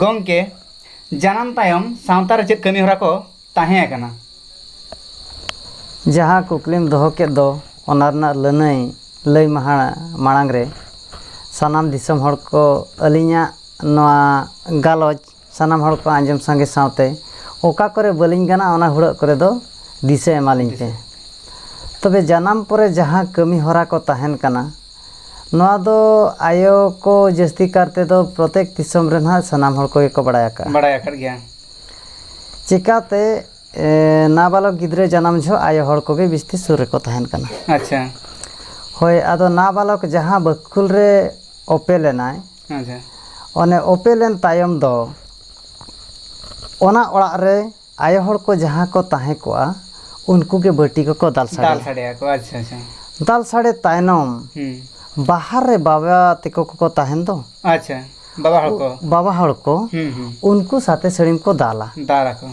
ᱜᱚᱢᱠᱮ ᱡᱟᱱᱟᱢ ᱛᱟᱭᱚᱢ ᱥᱟᱶᱛᱟ ᱨᱮ ᱪᱮᱫ ᱠᱟᱹᱢᱤ ᱦᱚᱨᱟ ᱠᱚ ᱛᱟᱦᱮᱸ ᱟᱠᱟᱱᱟ ᱡᱟᱦᱟᱸ ᱠᱩᱠᱞᱤᱢ ᱫᱚᱦᱚ ᱠᱮᱫ ᱫᱚ ᱚᱱᱟ ᱨᱮᱱᱟᱜ ᱞᱟᱹᱱᱟᱹᱭ ᱞᱟᱹᱭ ᱢᱟᱦᱟ ᱢᱟᱲᱟᱝ ᱨᱮ ᱥᱟᱱᱟᱢ ᱫᱤᱥᱚᱢ ᱦᱚᱲ ᱠᱚ ᱟᱹᱞᱤᱧᱟᱜ ᱱᱚᱣᱟ ᱜᱟᱞᱚᱪ ᱥᱟᱱᱟᱢ ᱦᱚᱲ ᱠᱚ ᱟᱸᱡᱚᱢ ᱥᱟᱸᱜᱮ ᱥᱟᱶᱛᱮ ᱚᱠᱟ ᱠᱚᱨᱮ ᱵᱟᱹᱞᱤᱧ ᱜᱟᱱᱟ ᱚᱱᱟ ᱦᱩᱲᱟᱹᱜ ᱠᱚᱨᱮ ᱫᱚ ᱫᱤᱥᱟᱹ ᱮᱢᱟᱞᱤᱧ ᱯᱮ᱾ ᱛᱚᱵᱮ ᱡᱟᱱᱟᱢ ᱯᱚᱨᱮ ᱡᱟᱦᱟᱸ ᱠᱟᱹᱢᱤ ᱦᱚᱨᱟ ᱠᱚ ᱛᱟᱦᱮᱱ ᱠᱟᱱᱟ ᱱᱚᱣᱟ ᱫᱚ ᱟᱭᱳ ᱠᱚ ᱡᱟᱹᱥᱛᱤ ᱠᱟᱨ ᱛᱮ ᱫᱚ ᱯᱨᱚᱛᱮᱠ ᱫᱤᱥᱚᱢ ᱨᱮ ᱱᱟᱦᱟᱜ ᱥᱟᱱᱟᱢ ᱦᱚᱲ ᱠᱚᱜᱮ ᱠᱚ ᱵᱟᱲᱟᱭ ᱟᱠᱟᱫᱼᱟ᱾ ᱵᱟᱲᱟᱭ ᱟᱠᱟᱫ ᱜᱮᱭᱟ᱾ ᱪᱮᱠᱟᱛᱮ ᱱᱟᱵᱟᱞᱚᱠ ᱜᱤᱫᱽᱨᱟᱹ ᱡᱟᱱᱟᱢ ᱡᱷᱚᱜ ᱟᱭᱳ ᱦᱚᱲ ᱠᱚᱜᱮ ᱵᱤᱥᱛᱤ ᱥᱩᱨ ᱨᱮᱠᱚ ᱛᱟᱦᱮᱱ ᱠᱟᱱᱟ᱾ ᱟᱪᱪᱷᱟ᱾ ᱦᱳᱭ ᱟᱫᱚ ᱱᱟᱵᱟᱞᱚᱠ ᱡᱟᱦᱟᱸ ᱵᱟᱹᱠᱠᱷᱩᱞ ᱨᱮ ᱚᱯᱮᱞ ᱮᱱᱟᱭ᱾ ᱟᱪᱪᱷᱟ ᱚᱱᱮ ᱚᱯᱮᱞ ᱮᱱ ᱛᱟᱭᱚᱢ ᱫᱚ ᱚᱱᱟ ᱚᱲᱟᱜ ᱨᱮ ᱟᱭᱳ ᱦᱚᱲ ᱠᱚ ᱡᱟᱦᱟᱸ ᱠᱚ ᱛᱟᱦᱮᱸ ᱠᱚᱜᱼᱟ ᱩᱱᱠᱩ ᱜᱮ ᱵᱟᱹᱴᱤ ᱠᱚᱠᱚ ᱫᱟᱞ ᱫᱟᱞ ᱥᱟᱰᱮᱭᱟ ᱥᱟᱰᱮᱭᱟ ᱠᱚ ᱟᱪᱪᱷᱟ ᱟᱪᱪᱷᱟ ᱫᱟᱞ ᱥᱟᱰᱮ ᱛᱟᱭᱱᱚᱢ ᱦᱩᱸ ᱵᱟᱦᱟᱨ ᱨᱮ ᱵᱟᱵᱟ ᱛᱮᱠᱚ ᱠᱚᱠᱚ ᱛᱟᱦᱮᱱ ᱫᱚ ᱟᱪᱪᱷᱟ ᱵᱟᱵᱟ ᱦᱚᱲ ᱠᱚ ᱵᱟᱵᱟ ᱦᱚᱲ ᱠᱚ ᱦᱩᱸ ᱦᱩᱸ ᱩᱱᱠᱩ ᱥᱟᱛᱮ ᱥᱟᱹᱲᱤᱢ ᱠᱚ ᱫᱟᱞᱟ ᱫᱟᱞ ᱟᱠᱚ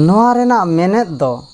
ᱱᱚᱣᱟ ᱨᱮᱱᱟᱜ ᱢᱮᱱᱮᱛ ᱫᱚ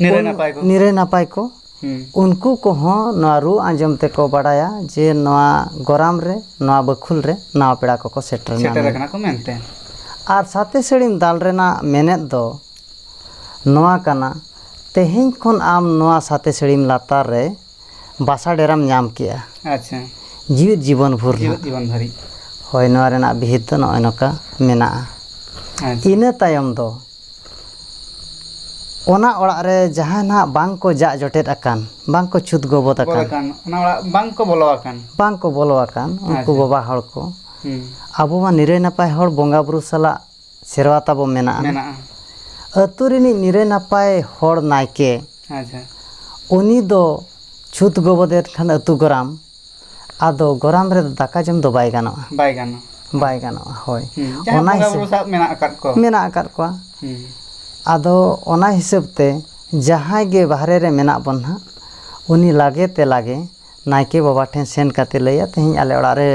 ᱱᱤᱨᱟᱹᱭ ᱱᱟᱯᱟᱭ ᱠᱚ ᱱᱤᱨᱟᱹᱭ ᱱᱟᱯᱟᱭ ᱠᱚ ᱩᱱᱠᱩ ᱠᱚᱦᱚᱸ ᱱᱚᱣᱟ ᱨᱩ ᱟᱸᱡᱚᱢ ᱛᱮᱠᱚ ᱵᱟᱲᱟᱭᱟ ᱡᱮ ᱱᱚᱣᱟ ᱜᱚᱨᱟᱢ ᱨᱮ ᱱᱚᱣᱟ ᱵᱟᱹᱠᱷᱩᱞ ᱨᱮ ᱱᱟᱣᱟ ᱯᱮᱲᱟ ᱠᱚᱠᱚ ᱥᱮᱴᱮᱨ ᱮᱱᱟ ᱥᱮᱴᱮᱨ ᱟᱠᱟᱱᱟ ᱠᱚ ᱢᱮᱱᱛᱮ ᱟᱨ ᱥᱟᱛᱮ ᱥᱟᱹᱲᱤᱢ ᱫᱟᱞ ᱨᱮᱱᱟᱜ ᱢᱮᱱᱮᱛ ᱫᱚ ᱱᱚᱣᱟ ᱠᱟᱱᱟ ᱛᱮᱦᱮᱧ ᱠᱷᱚᱱ ᱟᱢ ᱱᱚᱣᱟ ᱥᱟᱛᱮ ᱥᱟᱹᱲᱤᱢ ᱞᱟᱛᱟᱨ ᱨᱮ ᱵᱟᱥᱟ ᱰᱮᱨᱟᱢ ᱧᱟᱢ ᱠᱮᱜᱼᱟ ᱟᱪᱪᱷᱟ ᱡᱤᱣᱮᱫ ᱡᱤᱵᱚᱱ ᱵᱷᱳᱨ ᱡᱤᱣᱮᱫ ᱱᱟᱜ ᱡᱤᱵᱚᱱ ᱫᱷᱟᱹᱨᱤᱡ ᱦᱳᱭ ᱱᱚᱣᱟ ᱨᱮᱱᱟᱜ ᱵᱤᱦᱤᱛ ᱫᱚ ᱱᱚᱜᱼᱚᱭ ᱱᱚᱝᱠᱟ ᱢᱮᱱᱟᱜᱼᱟ ᱟᱪᱪᱷᱟ ᱤᱱᱟᱹ ᱛᱟᱭᱚᱢ ᱫᱚ ᱚᱱᱟ ᱚᱲᱟᱜ ᱨᱮ ᱡᱟᱦᱟᱸᱭ ᱱᱟᱜ ᱵᱟᱝ ᱠᱚ ᱡᱟᱜ ᱡᱚᱴᱮᱫ ᱟᱠᱟᱱ ᱵᱟᱝ ᱠᱚ ᱪᱷᱩᱛ ᱜᱚᱵᱚᱫ ᱵᱚᱞᱚ ᱟᱠᱟᱱ ᱟᱠᱟᱱ ᱚᱱᱟ ᱚᱲᱟᱜ ᱵᱟᱝ ᱠᱚ ᱵᱚᱞᱚ ᱟᱠᱟᱱ ᱵᱟᱝ ᱠᱚ ᱵᱚᱞᱚ ᱟᱠᱟᱱ ᱩᱱᱠᱩ ᱟᱪᱪᱷᱟ᱾ ᱵᱟᱵᱟ ᱦᱚᱲ ᱠᱚ ᱦᱩᱸ ᱟᱵᱚ ᱢᱟ ᱱᱤᱨᱟᱹᱭ ᱱᱟᱯᱟᱭ ᱦᱚᱲ ᱵᱚᱸᱜᱟ ᱵᱩᱨᱩ ᱥᱟᱞᱟᱜ ᱥᱮᱨᱣᱟ ᱛᱟᱵᱚ ᱢᱮᱱᱟᱜᱼᱟ ᱢᱮᱱᱟᱜᱼᱟ ᱟᱹᱛᱩ ᱨᱤᱱᱤᱡ ᱱᱤᱨᱟᱹᱭ ᱱᱟᱯᱟᱭ ᱦᱚᱲ ᱱᱟᱭᱠᱮ ᱟᱪᱪᱷᱟ ᱩᱱᱤ ᱫᱚ ᱪᱷᱩᱛ ᱜᱚᱵᱚᱫ ᱮᱱ ᱠᱷᱟᱱ ᱟᱹᱛᱩ ᱜᱚᱨᱟᱢ ᱟᱫᱚ ᱜᱚᱨᱟᱢ ᱨᱮᱫᱚ ᱫᱟᱠᱟ ᱡᱚᱢ ᱫᱚ ᱵᱟᱭ ᱜᱟᱱᱚᱜᱼᱟ ᱵᱟᱭ ᱜᱟᱱᱚᱜᱼᱟ ᱵᱟᱭ ᱜᱟᱱᱚᱜᱼᱟ ᱦᱳᱭ ᱦᱩᱸ, ᱡᱟᱦᱟᱸ ᱚᱱᱟ ᱵᱚᱸᱜᱟ ᱦᱤᱥᱟᱹᱵ ᱵᱩᱨᱩ ᱥᱟᱵ ᱢᱮᱱᱟᱜ ᱟᱠᱟᱫ ᱠᱚ ᱢᱮᱱᱟᱜ ᱟᱠᱟᱫ ᱠᱚᱣᱟ ᱦᱩᱸ, ᱟᱫᱚ ᱚᱱᱟ ᱦᱤᱥᱟᱹᱵ ᱛᱮ ᱡᱟᱦᱟᱸᱭ ᱜᱮ ᱵᱟᱦᱨᱮ ᱨᱮ ᱢᱮᱱᱟᱜ ᱵᱚᱱ ᱦᱟᱸᱜ ᱩᱱᱤ ᱞᱟᱜᱮ ᱛᱮ ᱞᱟᱜᱮ ᱱᱟᱭᱠᱮ ᱵᱟᱵᱟ ᱴᱷᱮᱱ ᱥᱮᱱ ᱠᱟᱛᱮ ᱞᱟᱹᱭᱟ ᱛᱮᱦᱮᱧ ᱟᱞᱮ ᱚᱲᱟᱜ ᱨᱮ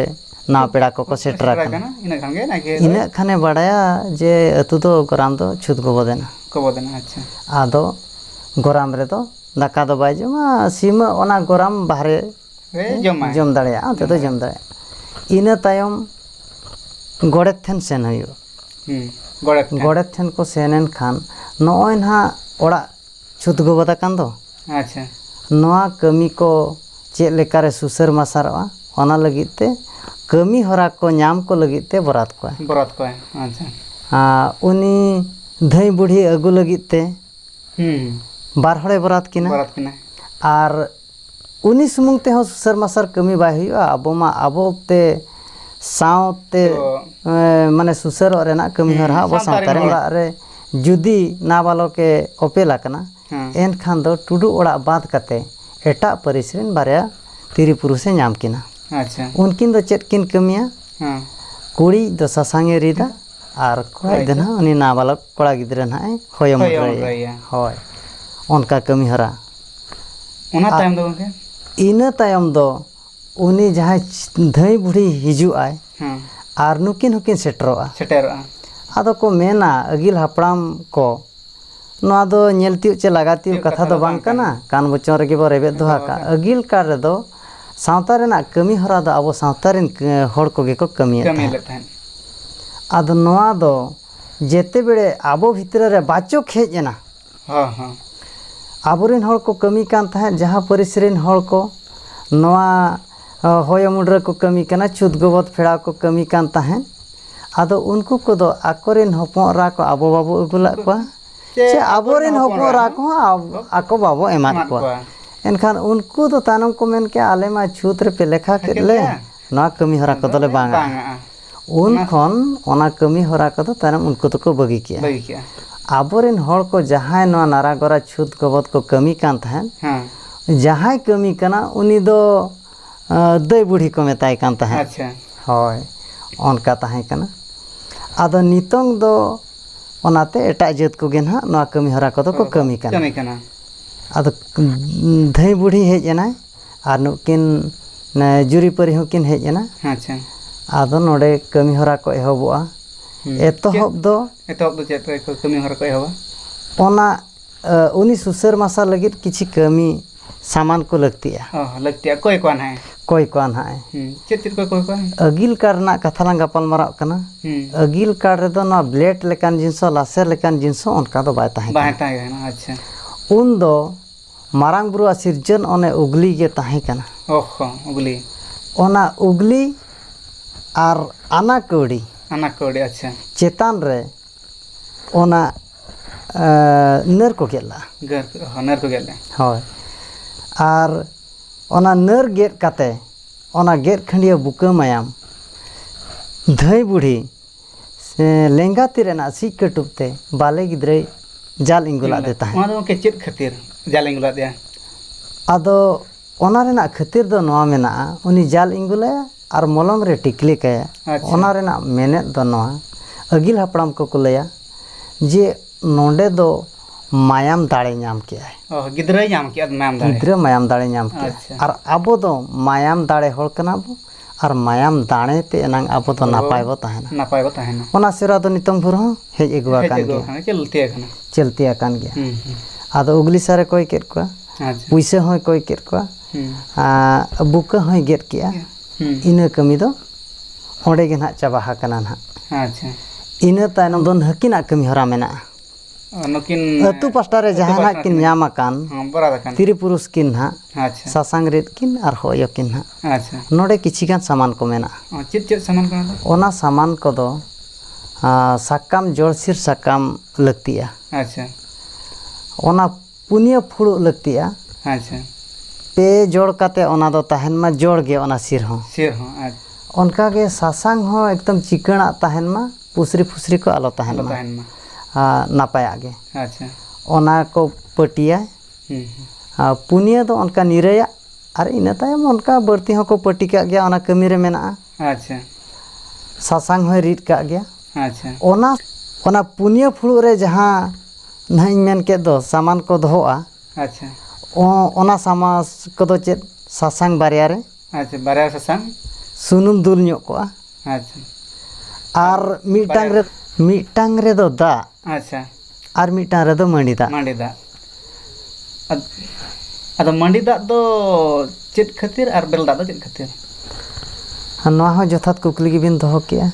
ᱱᱟᱣᱟ ᱯᱮᱲᱟ ᱠᱚᱠᱚ ᱥᱮᱴᱮᱨ ᱟᱠᱟᱱᱟ ᱤᱱᱟᱹᱜ ᱠᱷᱟᱱ ᱜᱮ ᱱᱟᱭᱠᱮ ᱤᱱᱟᱹᱜ ᱠᱷᱟᱱᱮ ᱵᱟᱲᱟᱭᱟ ᱡᱮ ᱟᱹᱛᱩ ᱫᱚ ᱜᱚᱨᱟᱢ ᱫᱚ ᱪᱷᱩᱛ ᱜᱚᱵᱚᱫ ᱮᱱᱟ ᱜᱚᱵᱚᱫ ᱮᱱᱟ ᱟᱪᱪᱷᱟ ᱟᱫᱚ ᱜᱚᱨᱟᱢ ᱨᱮᱫᱚ ᱫᱟᱠᱟ ᱫᱚ ᱵᱟᱭ ᱡᱚᱢᱟ ᱥᱤᱢ ᱚᱱᱟ ᱜᱚᱨᱟᱢ ᱵᱟᱦᱨᱮ ᱨᱮ ᱡᱚᱢᱟᱭ ᱡᱚᱢ ᱫᱟᱲᱮᱭᱟᱜᱼᱟ ᱚᱱᱛᱮ ᱫᱚ ᱡᱚᱢ ᱫᱟᱲᱮᱭᱟᱜᱼᱟ ᱤᱱᱟᱹ ᱛᱟᱭᱚᱢ ᱜᱚᱰᱮᱛ ᱴᱷᱮᱱ ᱥᱮᱱ ᱦᱩᱭᱩᱜᱼᱟ ᱜᱚᱰᱮᱛ ᱴᱷᱮᱱ ᱜᱚᱰᱮᱛ ᱴᱷᱮᱱ ᱠᱚ ᱥᱮᱱ ᱮᱱᱠᱷᱟᱱ ᱱᱚᱜᱼᱚᱭ ᱱᱟᱦᱟᱜ ᱚᱲᱟᱜ ᱪᱷᱩᱛ ᱜᱚᱵᱚᱫ ᱟᱠᱟᱱ ᱫᱚ᱾ ᱟᱪᱪᱷᱟ᱾ ᱱᱚᱣᱟ ᱠᱟᱹᱢᱤ ᱠᱚ ᱪᱮᱫ ᱞᱮᱠᱟ ᱨᱮ ᱥᱩᱥᱟᱹᱨ ᱢᱟᱨᱥᱟᱞᱚᱜᱼᱟ ᱚᱱᱟ ᱞᱟᱹᱜᱤᱫ ᱛᱮ ᱠᱟᱹᱢᱤ ᱦᱚᱨᱟ ᱠᱚ ᱧᱟᱢ ᱠᱚ ᱞᱟᱹᱜᱤᱫ ᱛᱮ ᱵᱚᱨᱟᱛ ᱠᱚᱣᱟᱭ᱾ ᱵᱚᱨᱟᱛ ᱠᱚᱣᱟᱭ ᱟᱪᱪᱷᱟ᱾ ᱟᱨ ᱩᱱᱤ ᱫᱷᱟᱹᱭ ᱵᱩᱰᱷᱤ ᱟᱹᱜᱩ ᱞᱟᱹᱜᱤᱫ ᱛᱮ ᱦᱩᱸ᱾ ᱵᱟᱨ ᱦᱚᱲᱮ ᱵᱚᱨᱟᱛ ᱠᱤᱱᱟ᱾ ᱵᱚᱨᱟᱛ ᱠᱤᱱᱟᱭ᱾ ᱟᱨ᱾ ᱩᱱᱤ ᱥᱩᱢᱩᱝ ᱛᱮᱦᱚᱸ ᱥᱩᱥᱟᱹᱨ ᱢᱟᱥᱟᱨ ᱠᱟᱹᱢᱤ ᱵᱟᱭ ᱦᱩᱭᱩᱜᱼᱟ ᱟᱵᱚ ᱢᱟ ᱟᱵᱚᱛᱮ ᱥᱟᱶᱛᱮ ᱢᱟᱱᱮ ᱥᱩᱥᱟᱹᱨᱚᱜ ᱨᱮᱱᱟᱜ ᱠᱟᱹᱢᱤ ᱦᱚᱨᱟ ᱟᱵᱚ ᱥᱟᱶᱛᱟ ᱨᱮ ᱚᱲᱟᱜ ᱨᱮ ᱡᱩᱫᱤ ᱱᱟᱵᱟᱞᱚᱠᱮ ᱚᱯᱮᱞ ᱟᱠᱟᱱᱟ ᱮᱱᱠᱷᱟᱱ ᱫᱚ ᱴᱩᱰᱩ ᱚᱲᱟᱜ ᱵᱟᱫ ᱠᱟᱛᱮ ᱮᱴᱟᱜ ᱯᱟᱹᱨᱤᱥ ᱨᱮᱱ ᱵᱟᱨᱭᱟ ᱛᱤᱨᱤ ᱯᱩᱨᱩᱥᱮ ᱧᱟᱢ ᱠᱤᱱᱟ ᱩᱱᱠᱤᱱ ᱫᱚ ᱪᱮᱫ ᱠᱤᱱ ᱠᱟᱹᱢᱤᱭᱟ ᱠᱩᱲᱤ ᱫᱚ ᱥᱟᱥᱟᱝ ᱮ ᱨᱤᱫᱟ ᱟᱨ ᱠᱚᱲᱟ ᱫᱚ ᱱᱟᱦᱟᱜ ᱩᱱᱤ ᱱᱟᱵᱟᱞᱚᱠ ᱠᱚᱲᱟ ᱜᱤᱫᱽᱨᱟᱹ ᱱᱟᱦᱟᱜ ᱮ ᱦᱚᱭᱚ ᱢᱩᱫᱽᱨᱟᱹᱭᱮᱭᱟ ᱦᱳᱭ ᱚᱱᱠᱟ ᱠᱟᱹᱢᱤ ᱦᱚᱨᱟ ᱚᱱᱟ ᱛᱟᱭᱚᱢ ᱫᱚ ᱜᱚᱝᱠᱮ ᱤᱱᱟᱹ ᱛᱟᱭᱚᱢ ᱫᱚ ᱩᱱᱤ ᱡᱟᱦᱟᱸᱭ ᱫᱷᱟᱹᱭ ᱵᱩᱰᱷᱤ ᱦᱤᱡᱩᱜ ᱟᱭ ᱟᱨ ᱱᱩᱠᱤᱱ ᱦᱚᱸᱠᱤᱱ ᱥᱮᱴᱮᱨᱚᱜᱼᱟ ᱥᱮᱴᱮᱨᱚᱜᱼᱟ ᱟᱫᱚ ᱠᱚ ᱢᱮᱱᱟ ᱟᱹᱜᱤᱞ ᱦᱟᱯᱲᱟᱢ ᱠᱚ ᱱᱚᱣᱟ ᱫᱚ ᱧᱮᱞ ᱛᱤᱭᱳᱜ ᱪᱮ ᱞᱟᱜᱟ ᱛᱤᱭᱳᱜ ᱠᱟᱛᱷᱟ ᱫᱚ ᱵᱟᱝ ᱠᱟᱱᱟ ᱠᱟᱱ ᱵᱚᱪᱚᱱ ᱨᱮᱜᱮ ᱵᱚ ᱨᱮᱵᱮᱫ ᱫᱚᱦᱚ ᱟᱠᱟᱫ ᱟᱹᱜᱤᱞ ᱠᱟᱞ ᱨᱮᱫᱚ ᱥᱟᱶᱛᱟ ᱨᱮᱱᱟᱜ ᱠᱟᱹᱢᱤ ᱦᱚᱨᱟ ᱫᱚ ᱟᱵᱚ ᱥᱟᱶᱛᱟ ᱨᱮᱱ ᱦᱚᱲ ᱠᱚᱜᱮ ᱠᱚ ᱠᱟᱹᱢᱤᱭᱮᱫ ᱛᱟᱦᱮᱸᱫ ᱟᱫᱚ ᱱᱚᱣᱟ ᱫᱚ ᱡᱮᱛᱮ ᱵᱮᱲᱮ ᱟᱵᱚ ᱵᱷᱤᱛᱨᱤ ᱨᱮ ᱵᱟᱪᱚᱠ ᱦᱮᱡ ᱮᱱᱟ ᱦᱚᱸ ᱦᱚᱸ ᱟᱵᱚᱨᱮᱱ ᱦᱚᱲ ᱠᱚ ᱠᱟᱹᱢᱤ ᱠᱟᱱ ᱛᱟᱦᱮᱸᱫ ᱡᱟᱦᱟᱸ ᱯᱟᱹᱨᱤᱥ ᱨᱮᱱ ᱦᱚᱲ ᱠᱚ ᱱᱚᱣᱟ ᱦᱚᱭ ᱩᱢᱩᱞ ᱨᱮᱠᱚ ᱠᱟᱹᱢᱤ ᱠᱟᱱᱟ ᱪᱷᱩᱛ ᱜᱚᱵᱚᱞ ᱯᱷᱮᱲᱟᱣ ᱠᱚ ᱠᱟᱹᱢᱤ ᱠᱟᱱ ᱛᱟᱦᱮᱸᱫ ᱟᱫᱚ ᱩᱱᱠᱩ ᱠᱚᱫᱚ ᱟᱠᱚᱨᱮᱱ ᱦᱚᱯᱚᱱ ᱮᱨᱟ ᱠᱚ ᱟᱵᱚ ᱵᱟᱵᱚ ᱟᱹᱜᱩ ᱞᱮᱫ ᱠᱚᱣᱟ ᱪᱮ ᱟᱵᱚᱨᱮᱱ ᱦᱚᱯᱚᱱ ᱮᱨᱟ ᱠᱚᱦᱚᱸ ᱟᱠᱚ ᱵᱟᱵᱚ ᱮᱢᱟᱫ ᱠᱚᱣᱟ ᱮᱱᱠᱷᱟᱱ ᱩᱱᱠᱩ ᱫᱚ ᱛᱟᱭᱱᱚᱢ ᱠᱚ ᱢᱮᱱ ᱠᱮᱜᱼᱟ ᱟᱞᱮ ᱢᱟ ᱪᱷᱩᱛ ᱨᱮᱯᱮ ᱞᱮᱠᱷᱟ ᱠᱮᱫ ᱞᱮ ᱱᱚᱣᱟ ᱠᱟᱹᱢᱤ ᱦᱚᱨᱟ ᱠᱚᱫᱚ ᱞᱮ ᱵᱟᱝ ᱟᱜᱼᱟ ᱩᱱ ᱠᱷᱚᱱ ᱚᱱᱟ ᱠᱟᱹᱢᱤ ᱦᱚᱨᱟ ᱠᱚᱫᱚ ᱛᱟᱭᱱᱚᱢ ᱩᱱᱠᱩ ᱫᱚᱠᱚ ᱵᱟᱹᱜᱤ ᱠᱮᱜᱼᱟ ᱵᱟᱹᱜᱤ ᱠᱮᱜᱼᱟ ᱟᱵᱚ ᱨᱮᱱ ᱦᱚᱲ ᱠᱚ ᱡᱟᱦᱟᱸᱭ ᱱᱚᱣᱟ ᱱᱟᱨᱟ ᱜᱚᱨᱟ ᱪᱷᱩᱛ ᱜᱚᱵᱚᱫ ᱠᱚ ᱠᱟᱹᱢᱤ ᱠᱟᱱ ᱛᱟᱦᱮᱸᱫ ᱡᱟᱦᱟᱸᱭ ᱠᱟᱹᱢᱤ ᱠᱟᱱᱟ ᱩᱱᱤ ᱫᱚ ᱫᱟᱹᱭ ᱵᱩᱲᱦᱤ ᱠᱚ ᱢᱮᱛᱟᱭ ᱠᱟᱱ ᱛᱟᱦᱮᱸᱫ ᱟᱪᱪᱷᱟ ᱦᱳᱭ ᱚᱱᱠᱟ ᱛᱟᱦᱮᱸ ᱠᱟᱱᱟ ᱟᱫᱚ ᱱᱤᱛᱚᱝ ᱫᱚ ᱚᱱᱟᱛᱮ ᱮᱴᱟᱜ ᱡᱟᱹᱛ ᱠᱚᱜᱮ ᱱᱟᱦᱟᱜ ᱱᱚᱣᱟ ᱠᱟᱹᱢᱤ ᱦᱚᱨᱟ ᱠᱚᱫᱚ ᱠᱚ ᱠᱟᱹᱢᱤ ᱠᱟᱱᱟ ᱠᱟᱹᱢᱤ ᱠᱟᱱᱟ ᱟᱫᱚ ᱫᱷᱟᱹᱭ ᱵᱩᱲᱦᱤ ᱦᱮᱡ ᱮᱱᱟᱭ ᱟᱨ ᱱᱩᱠᱤᱱ ᱡᱩᱨᱤᱯᱟᱹᱨᱤ ᱦᱚᱸᱠᱤᱱ ᱦᱮᱡ ᱮᱱᱟ ᱟᱪᱪᱷᱟ ᱟᱫᱚ ᱱᱚᱰᱮ ᱠᱟᱹᱢᱤ ᱦᱚᱨᱟ ᱠᱚ ᱮᱦᱚᱵᱚᱜᱼᱟ ᱮᱛᱚᱦᱚᱵ ᱫᱚ ᱮᱛᱚᱦᱚᱵ ᱫᱚ ᱪᱮᱫ ᱠᱚ ᱠᱟᱹᱢᱤ ᱦᱚᱨᱟ ᱠᱚ ᱮᱦᱚᱵᱟ ᱚᱱᱟ ᱩᱱᱤ ᱥᱩᱥᱟᱹᱨ ᱢᱟᱥᱟ ᱞᱟᱹᱜᱤᱫ ᱠᱤᱪᱷᱩ ᱠᱟᱹᱢᱤ ᱥᱟᱢᱟᱱ ᱠᱚ ᱞᱟᱹᱠᱛᱤᱜᱼᱟ ᱞᱟᱹᱠᱛᱤᱜᱼᱟ ᱚᱠᱚᱭ ᱠᱚᱣᱟ ᱱᱟᱦᱟᱜ ᱚᱠᱚᱭ ᱠᱚᱣᱟ ᱱᱟᱦᱟᱜ ᱪᱮᱫ ᱪᱮᱫ ᱠᱚ ᱚᱠᱚᱭ ᱠᱚᱣᱟ ᱟᱹᱜᱤᱞ ᱠᱟᱨᱰ ᱨᱮᱱᱟᱜ ᱠᱟᱛᱷᱟ ᱞᱟᱝ ᱜᱟᱯᱟᱞ ᱢᱟᱨᱟᱜ ᱠᱟᱱᱟ ᱟᱹᱜᱤᱞ ᱠᱟᱨᱰ ᱨᱮᱫᱚ ᱱᱚᱣᱟ ᱵᱞᱮᱰ ᱞᱮᱠᱟᱱ ᱡᱤᱱᱤᱥ ᱦᱚᱸ ᱞᱟᱥᱮᱨ ᱞᱮᱠᱟᱱ ᱡᱤᱱᱤᱥ ᱦᱚᱸ ᱚᱱᱠᱟ ᱫᱚ ᱵᱟᱭ ᱛᱟᱦᱮᱸ ᱠᱟᱱᱟ ᱵᱟᱭ ᱛᱟᱦᱮᱸ ᱠᱟᱱᱟ ᱟᱪᱪᱷᱟ ᱩᱱᱫᱚ ᱢᱟᱨᱟᱝ ᱵᱩᱨᱩᱣᱟᱜ ᱥᱤᱨᱡᱟᱹᱱ ᱚᱱᱮ ᱩᱜᱽᱞᱤ ᱜᱮ ᱛᱟᱦᱮᱸ ᱠᱟᱱᱟ ᱚᱦᱚ ᱩᱜᱽᱞᱤ ᱚᱱᱟ ᱩᱜᱽᱞᱤ ᱟᱨ ᱟᱱᱟ ᱠᱟᱹᱣᱰᱤ ᱟᱱᱟ ᱠᱟᱹᱣᱰᱤ ᱟᱪᱪᱷᱟ ᱪᱮᱛᱟᱱ ᱨᱮ ᱚᱱᱟ ᱱᱟᱹᱨ ᱠᱚ ᱜᱮᱫ ᱞᱟᱜᱼᱟ ᱜᱟᱹᱨ ᱚᱦᱚ ᱱᱟᱹᱨ ᱠᱚ ᱜᱮᱫ ᱞᱮᱫᱼᱟ ᱦᱳᱭ ᱟᱨ ᱚᱱᱟ ᱱᱟᱹᱨ ᱜᱮᱫ ᱠᱟᱛᱮ ᱚᱱᱟ ᱜᱮᱫ ᱠᱷᱟᱹᱰᱭᱟᱹ ᱵᱩᱠᱟᱹ ᱢᱟᱭᱟᱢ ᱫᱷᱟᱹᱭ ᱵᱩᱰᱷᱤ ᱞᱮᱸᱜᱟ ᱛᱤ ᱨᱮᱱᱟᱜ ᱥᱤᱡ ᱠᱟᱹᱴᱩᱵ ᱛᱮ ᱵᱟᱞᱮ ᱜᱤᱫᱽᱨᱟᱹᱭ ᱡᱟᱞ ᱤᱸᱜᱩᱞᱟᱫ ᱫᱮ ᱛᱟᱦᱮᱸᱫ ᱚᱱᱟ ᱫᱚ ᱜᱚᱢᱠᱮ ᱪᱮᱫ ᱠᱷᱟᱹᱛᱤᱨ ᱡᱟᱞ ᱤᱸᱜᱩᱞᱟᱫ ᱫᱮᱭᱟ ᱟᱫᱚ ᱚᱱᱟ ᱨᱮᱱᱟᱜ ᱠᱷᱟᱹᱛᱤᱨ ᱫᱚ ᱱᱚᱣᱟ ᱢᱮᱱᱟᱜᱼᱟ ᱩᱱᱤ ᱡᱟᱞ ᱤᱸᱜᱩᱞᱟᱭᱟ ᱟᱨ ᱢᱚᱞᱚᱝ ᱨᱮ ᱴᱤᱠᱞᱤ ᱠᱟᱭᱟ ᱚᱱᱟ ᱨᱮᱱᱟᱜ ᱢᱮᱱᱮᱫ ᱫᱚ ᱱᱚᱣᱟ ᱟᱹᱜᱤᱞ ᱦᱟᱯᱲᱟᱢ ᱠᱚᱠᱚ ᱞᱟᱹᱭᱟ ᱡᱮ ᱱᱚᱰᱮ ᱫᱚ ᱢᱟᱭᱟᱢ ᱫᱟᱲᱮ ᱧᱟᱢ ᱠᱮᱜᱼᱟᱭ ᱜᱤᱫᱽᱨᱟᱹᱭ ᱧᱟᱢ ᱠᱮᱜᱼᱟ ᱢᱟᱭᱟᱢ ᱫᱟᱲᱮ ᱜᱤᱫᱽᱨᱟᱹ ᱢᱟᱭᱟᱢ ᱫᱟᱲᱮ ᱧᱟᱢ ᱠᱮᱜᱼᱟ ᱟᱨ ᱟᱵᱚ ᱫᱚ ᱢᱟᱭᱟᱢ ᱫᱟᱲᱮ ᱦᱚᱲ ᱠᱟᱱᱟ ᱵᱚᱱ ᱟᱨ ᱢᱟᱭᱟᱢ ᱫᱟᱲᱮ ᱛᱮ ᱮᱱᱟᱝ ᱟᱵᱚ ᱫᱚ ᱱᱟᱯᱟᱭ ᱵᱚ ᱛᱟᱦᱮᱱᱟ ᱱᱟᱯᱟᱭ ᱵᱚ ᱛᱟᱦᱮᱱᱟ ᱚᱱᱟ ᱥᱮᱨᱣᱟ ᱫᱚ ᱱᱤᱛᱚᱝ ᱵᱷᱳᱨ ᱦᱚᱸ ᱦᱮᱡ ᱟᱹᱜᱩ ᱟᱠᱟᱱ ᱜᱮᱭᱟ ᱪᱚᱞᱛᱤ ᱟᱠᱟᱱᱟ ᱪᱚᱞᱛᱤ ᱟᱠᱟᱱ ᱜᱮᱭᱟ ᱟᱫᱚ ᱩᱜᱽᱞᱤ ᱥᱟᱨᱮ ᱠᱚᱭ ᱠᱮᱫ ᱠᱚᱣᱟ ᱯᱩᱭᱥᱟᱹ ᱦᱚᱸᱭ ᱠᱚᱭ ᱠᱮᱫ ᱠᱚᱣᱟ ᱟᱨ ᱵᱩᱠᱟᱹ ᱦᱚᱸᱭ ᱜᱮᱫ ᱠᱮᱜᱼᱟ ᱤᱱᱟᱹ ᱠᱟᱹᱢᱤ ᱫᱚ ᱚᱸᱰᱮ ᱜᱮ ᱱᱟᱦᱟᱜ ᱪᱟᱵᱟ ᱟᱠᱟᱱᱟ ᱱᱟᱦᱟᱜ ᱤᱱᱟᱹ ᱛᱟᱭᱱᱚᱢ ᱫᱚ ᱦᱟᱹᱠᱤᱱᱟᱜ ᱠᱟᱹᱢᱤ ᱦᱚᱨᱟ ᱢᱮᱱᱟᱜᱼᱟ ᱱᱩᱠᱤᱱ ᱟᱹᱛᱩ ᱯᱟᱥᱴᱟ ᱨᱮ ᱡᱟᱦᱟᱱᱟᱜ ᱠᱤᱱ ᱧᱟᱢ ᱟᱠᱟᱱ ᱛᱤᱨᱤ ᱯᱩᱨᱩᱥ ᱠᱤᱱ ᱱᱟᱦᱟᱜ ᱥᱟᱥᱟᱝ ᱨᱤᱫ ᱠᱤᱱ ᱟᱨ ᱦᱚᱭᱚ ᱠᱤᱱ ᱱᱟᱦᱟᱜ ᱱᱚᱰᱮ ᱠᱤᱪᱷᱤ ᱜᱟᱱ ᱥᱟᱢᱟᱱ ᱠᱚ ᱢᱮᱱᱟᱜᱼᱟ ᱪᱮᱫ ᱪᱮᱫ ᱥᱟᱢᱟᱱ ᱠᱚ ᱢᱮᱱᱟᱜᱼᱟ ᱚᱱᱟ ᱥᱟᱢᱟᱱ ᱠᱚᱫᱚ ᱥᱟᱠᱟᱢ ᱡᱚᱲᱥᱤᱨ ᱥᱟᱠᱟᱢ ᱞᱟᱹᱠᱛᱤᱜᱼᱟ ᱟᱪᱪᱷᱟ ᱚᱱᱟ ᱯᱩᱱᱭᱟᱹ ᱯᱷᱩᱲᱩᱜ ᱞᱟᱹᱠᱛᱤᱜᱼᱟ ᱟᱪᱪᱷᱟ ᱯᱮ ᱡᱚᱲ ᱠᱟᱛᱮ ᱚᱱᱟ ᱫᱚ ᱛᱟᱦᱮᱱ ᱢᱟ ᱡᱚᱲ ᱜᱮ ᱚᱱᱟ ᱥᱤᱨ ᱦᱚᱸ ᱥᱤᱨ ᱦᱚᱸ ᱟᱪᱪᱷᱟ ᱚᱱᱠᱟ ᱜᱮ ᱥᱟᱥᱟᱝ ᱦᱚᱸ ᱮᱠᱫᱚᱢ ᱪᱤᱠᱟᱹᱬᱟᱜ ᱛᱟᱦᱮᱱ ᱢᱟ ᱯᱩᱥᱨᱤ ᱯᱷᱩᱥᱨᱤ ᱠᱚ ᱟᱞᱚ ᱛᱟᱦᱮᱱ ᱟᱞᱚ ᱢᱟ ᱛᱟᱦᱮᱱ ᱢᱟ ᱟᱨ ᱱᱟᱯᱟᱭᱟᱜ ᱜᱮ ᱟᱪᱪᱷᱟ ᱚᱱᱟ ᱠᱚ ᱯᱟᱹᱴᱤᱭᱟ ᱦᱩᱸ ᱦᱩᱸ ᱟᱨ ᱯᱩᱱᱭᱟᱹ ᱫᱚ ᱚᱱᱠᱟ ᱱᱤᱨᱟᱹᱭᱟᱜ ᱟᱨ ᱤᱱᱟᱹ ᱛᱟᱭᱚᱢ ᱚᱱᱠᱟ ᱵᱟᱹᱲᱛᱤ ᱦᱚᱸᱠᱚ ᱯᱟᱹᱴᱤ ᱠᱟᱜ ᱜᱮᱭᱟ ᱚᱱᱟ ᱠᱟᱹᱢᱤ ᱨᱮ ᱢᱮᱱᱟᱜᱼᱟ ᱟᱪᱪᱷᱟ ᱥᱟᱥᱟᱝ ᱦᱚᱸᱭ ᱨᱤᱫ ᱠᱟᱜ ᱜᱮᱭᱟ ᱟᱪᱪᱷᱟ ᱚᱱᱟ ᱚᱱᱟ ᱯᱩᱱᱭᱟᱹ ᱯᱷᱩᱲᱩᱜ ᱨᱮ ᱡᱟᱦᱟᱸ ᱱᱟᱦᱟᱜ ᱤᱧ ᱢᱮᱱ ᱠᱮᱫ ᱫᱚ ᱥᱟᱢᱟᱱ ᱠᱚ ᱫᱚᱦᱚᱜᱼᱟ ᱟᱪᱪᱷᱟ ᱚᱱᱟ ᱥᱟᱢᱟᱥ ᱠᱚᱫᱚ ᱪᱮᱫ ᱥᱟᱥᱟᱝ ᱵᱟᱨᱭᱟ ᱨᱮ ᱟᱪᱪᱷᱟ ᱵᱟᱨᱭᱟ ᱨᱮ ᱥᱟᱥᱟᱝ ᱥᱩᱱᱩᱢ ᱫᱩᱞ ᱧᱚᱜ ᱠᱚᱜᱼᱟ ᱟᱪᱪᱷᱟ ᱟᱨ ᱢᱤᱫᱴᱟᱝ ᱨᱮ ᱢᱤᱫᱴᱟᱝ ᱨᱮᱫᱚ ᱫᱟᱜ ᱟᱪᱪᱷᱟ ᱟᱨ ᱢᱤᱫᱴᱟᱝ ᱨᱮᱫᱚ ᱢᱟᱹᱰᱤ ᱫᱟᱜ ᱢᱟᱹᱰᱤ ᱫᱟᱜ ᱟᱫᱚ ᱢᱟᱹᱰᱤ ᱫᱟᱜ ᱫᱚ ᱪᱮᱫ ᱠᱷᱟᱹᱛᱤᱨ ᱟᱨ ᱵᱮᱨᱮᱞ ᱫᱟᱜ ᱫᱚ ᱪᱮᱫ ᱠᱷᱟᱹᱛᱤᱨ ᱱᱚᱣᱟ ᱦᱚᱸ ᱡᱚᱛᱷᱟᱛ ᱠᱩᱠᱞᱤ ᱜᱮᱵᱤᱱ ᱫᱚᱦᱚ ᱠᱮᱜᱼᱟ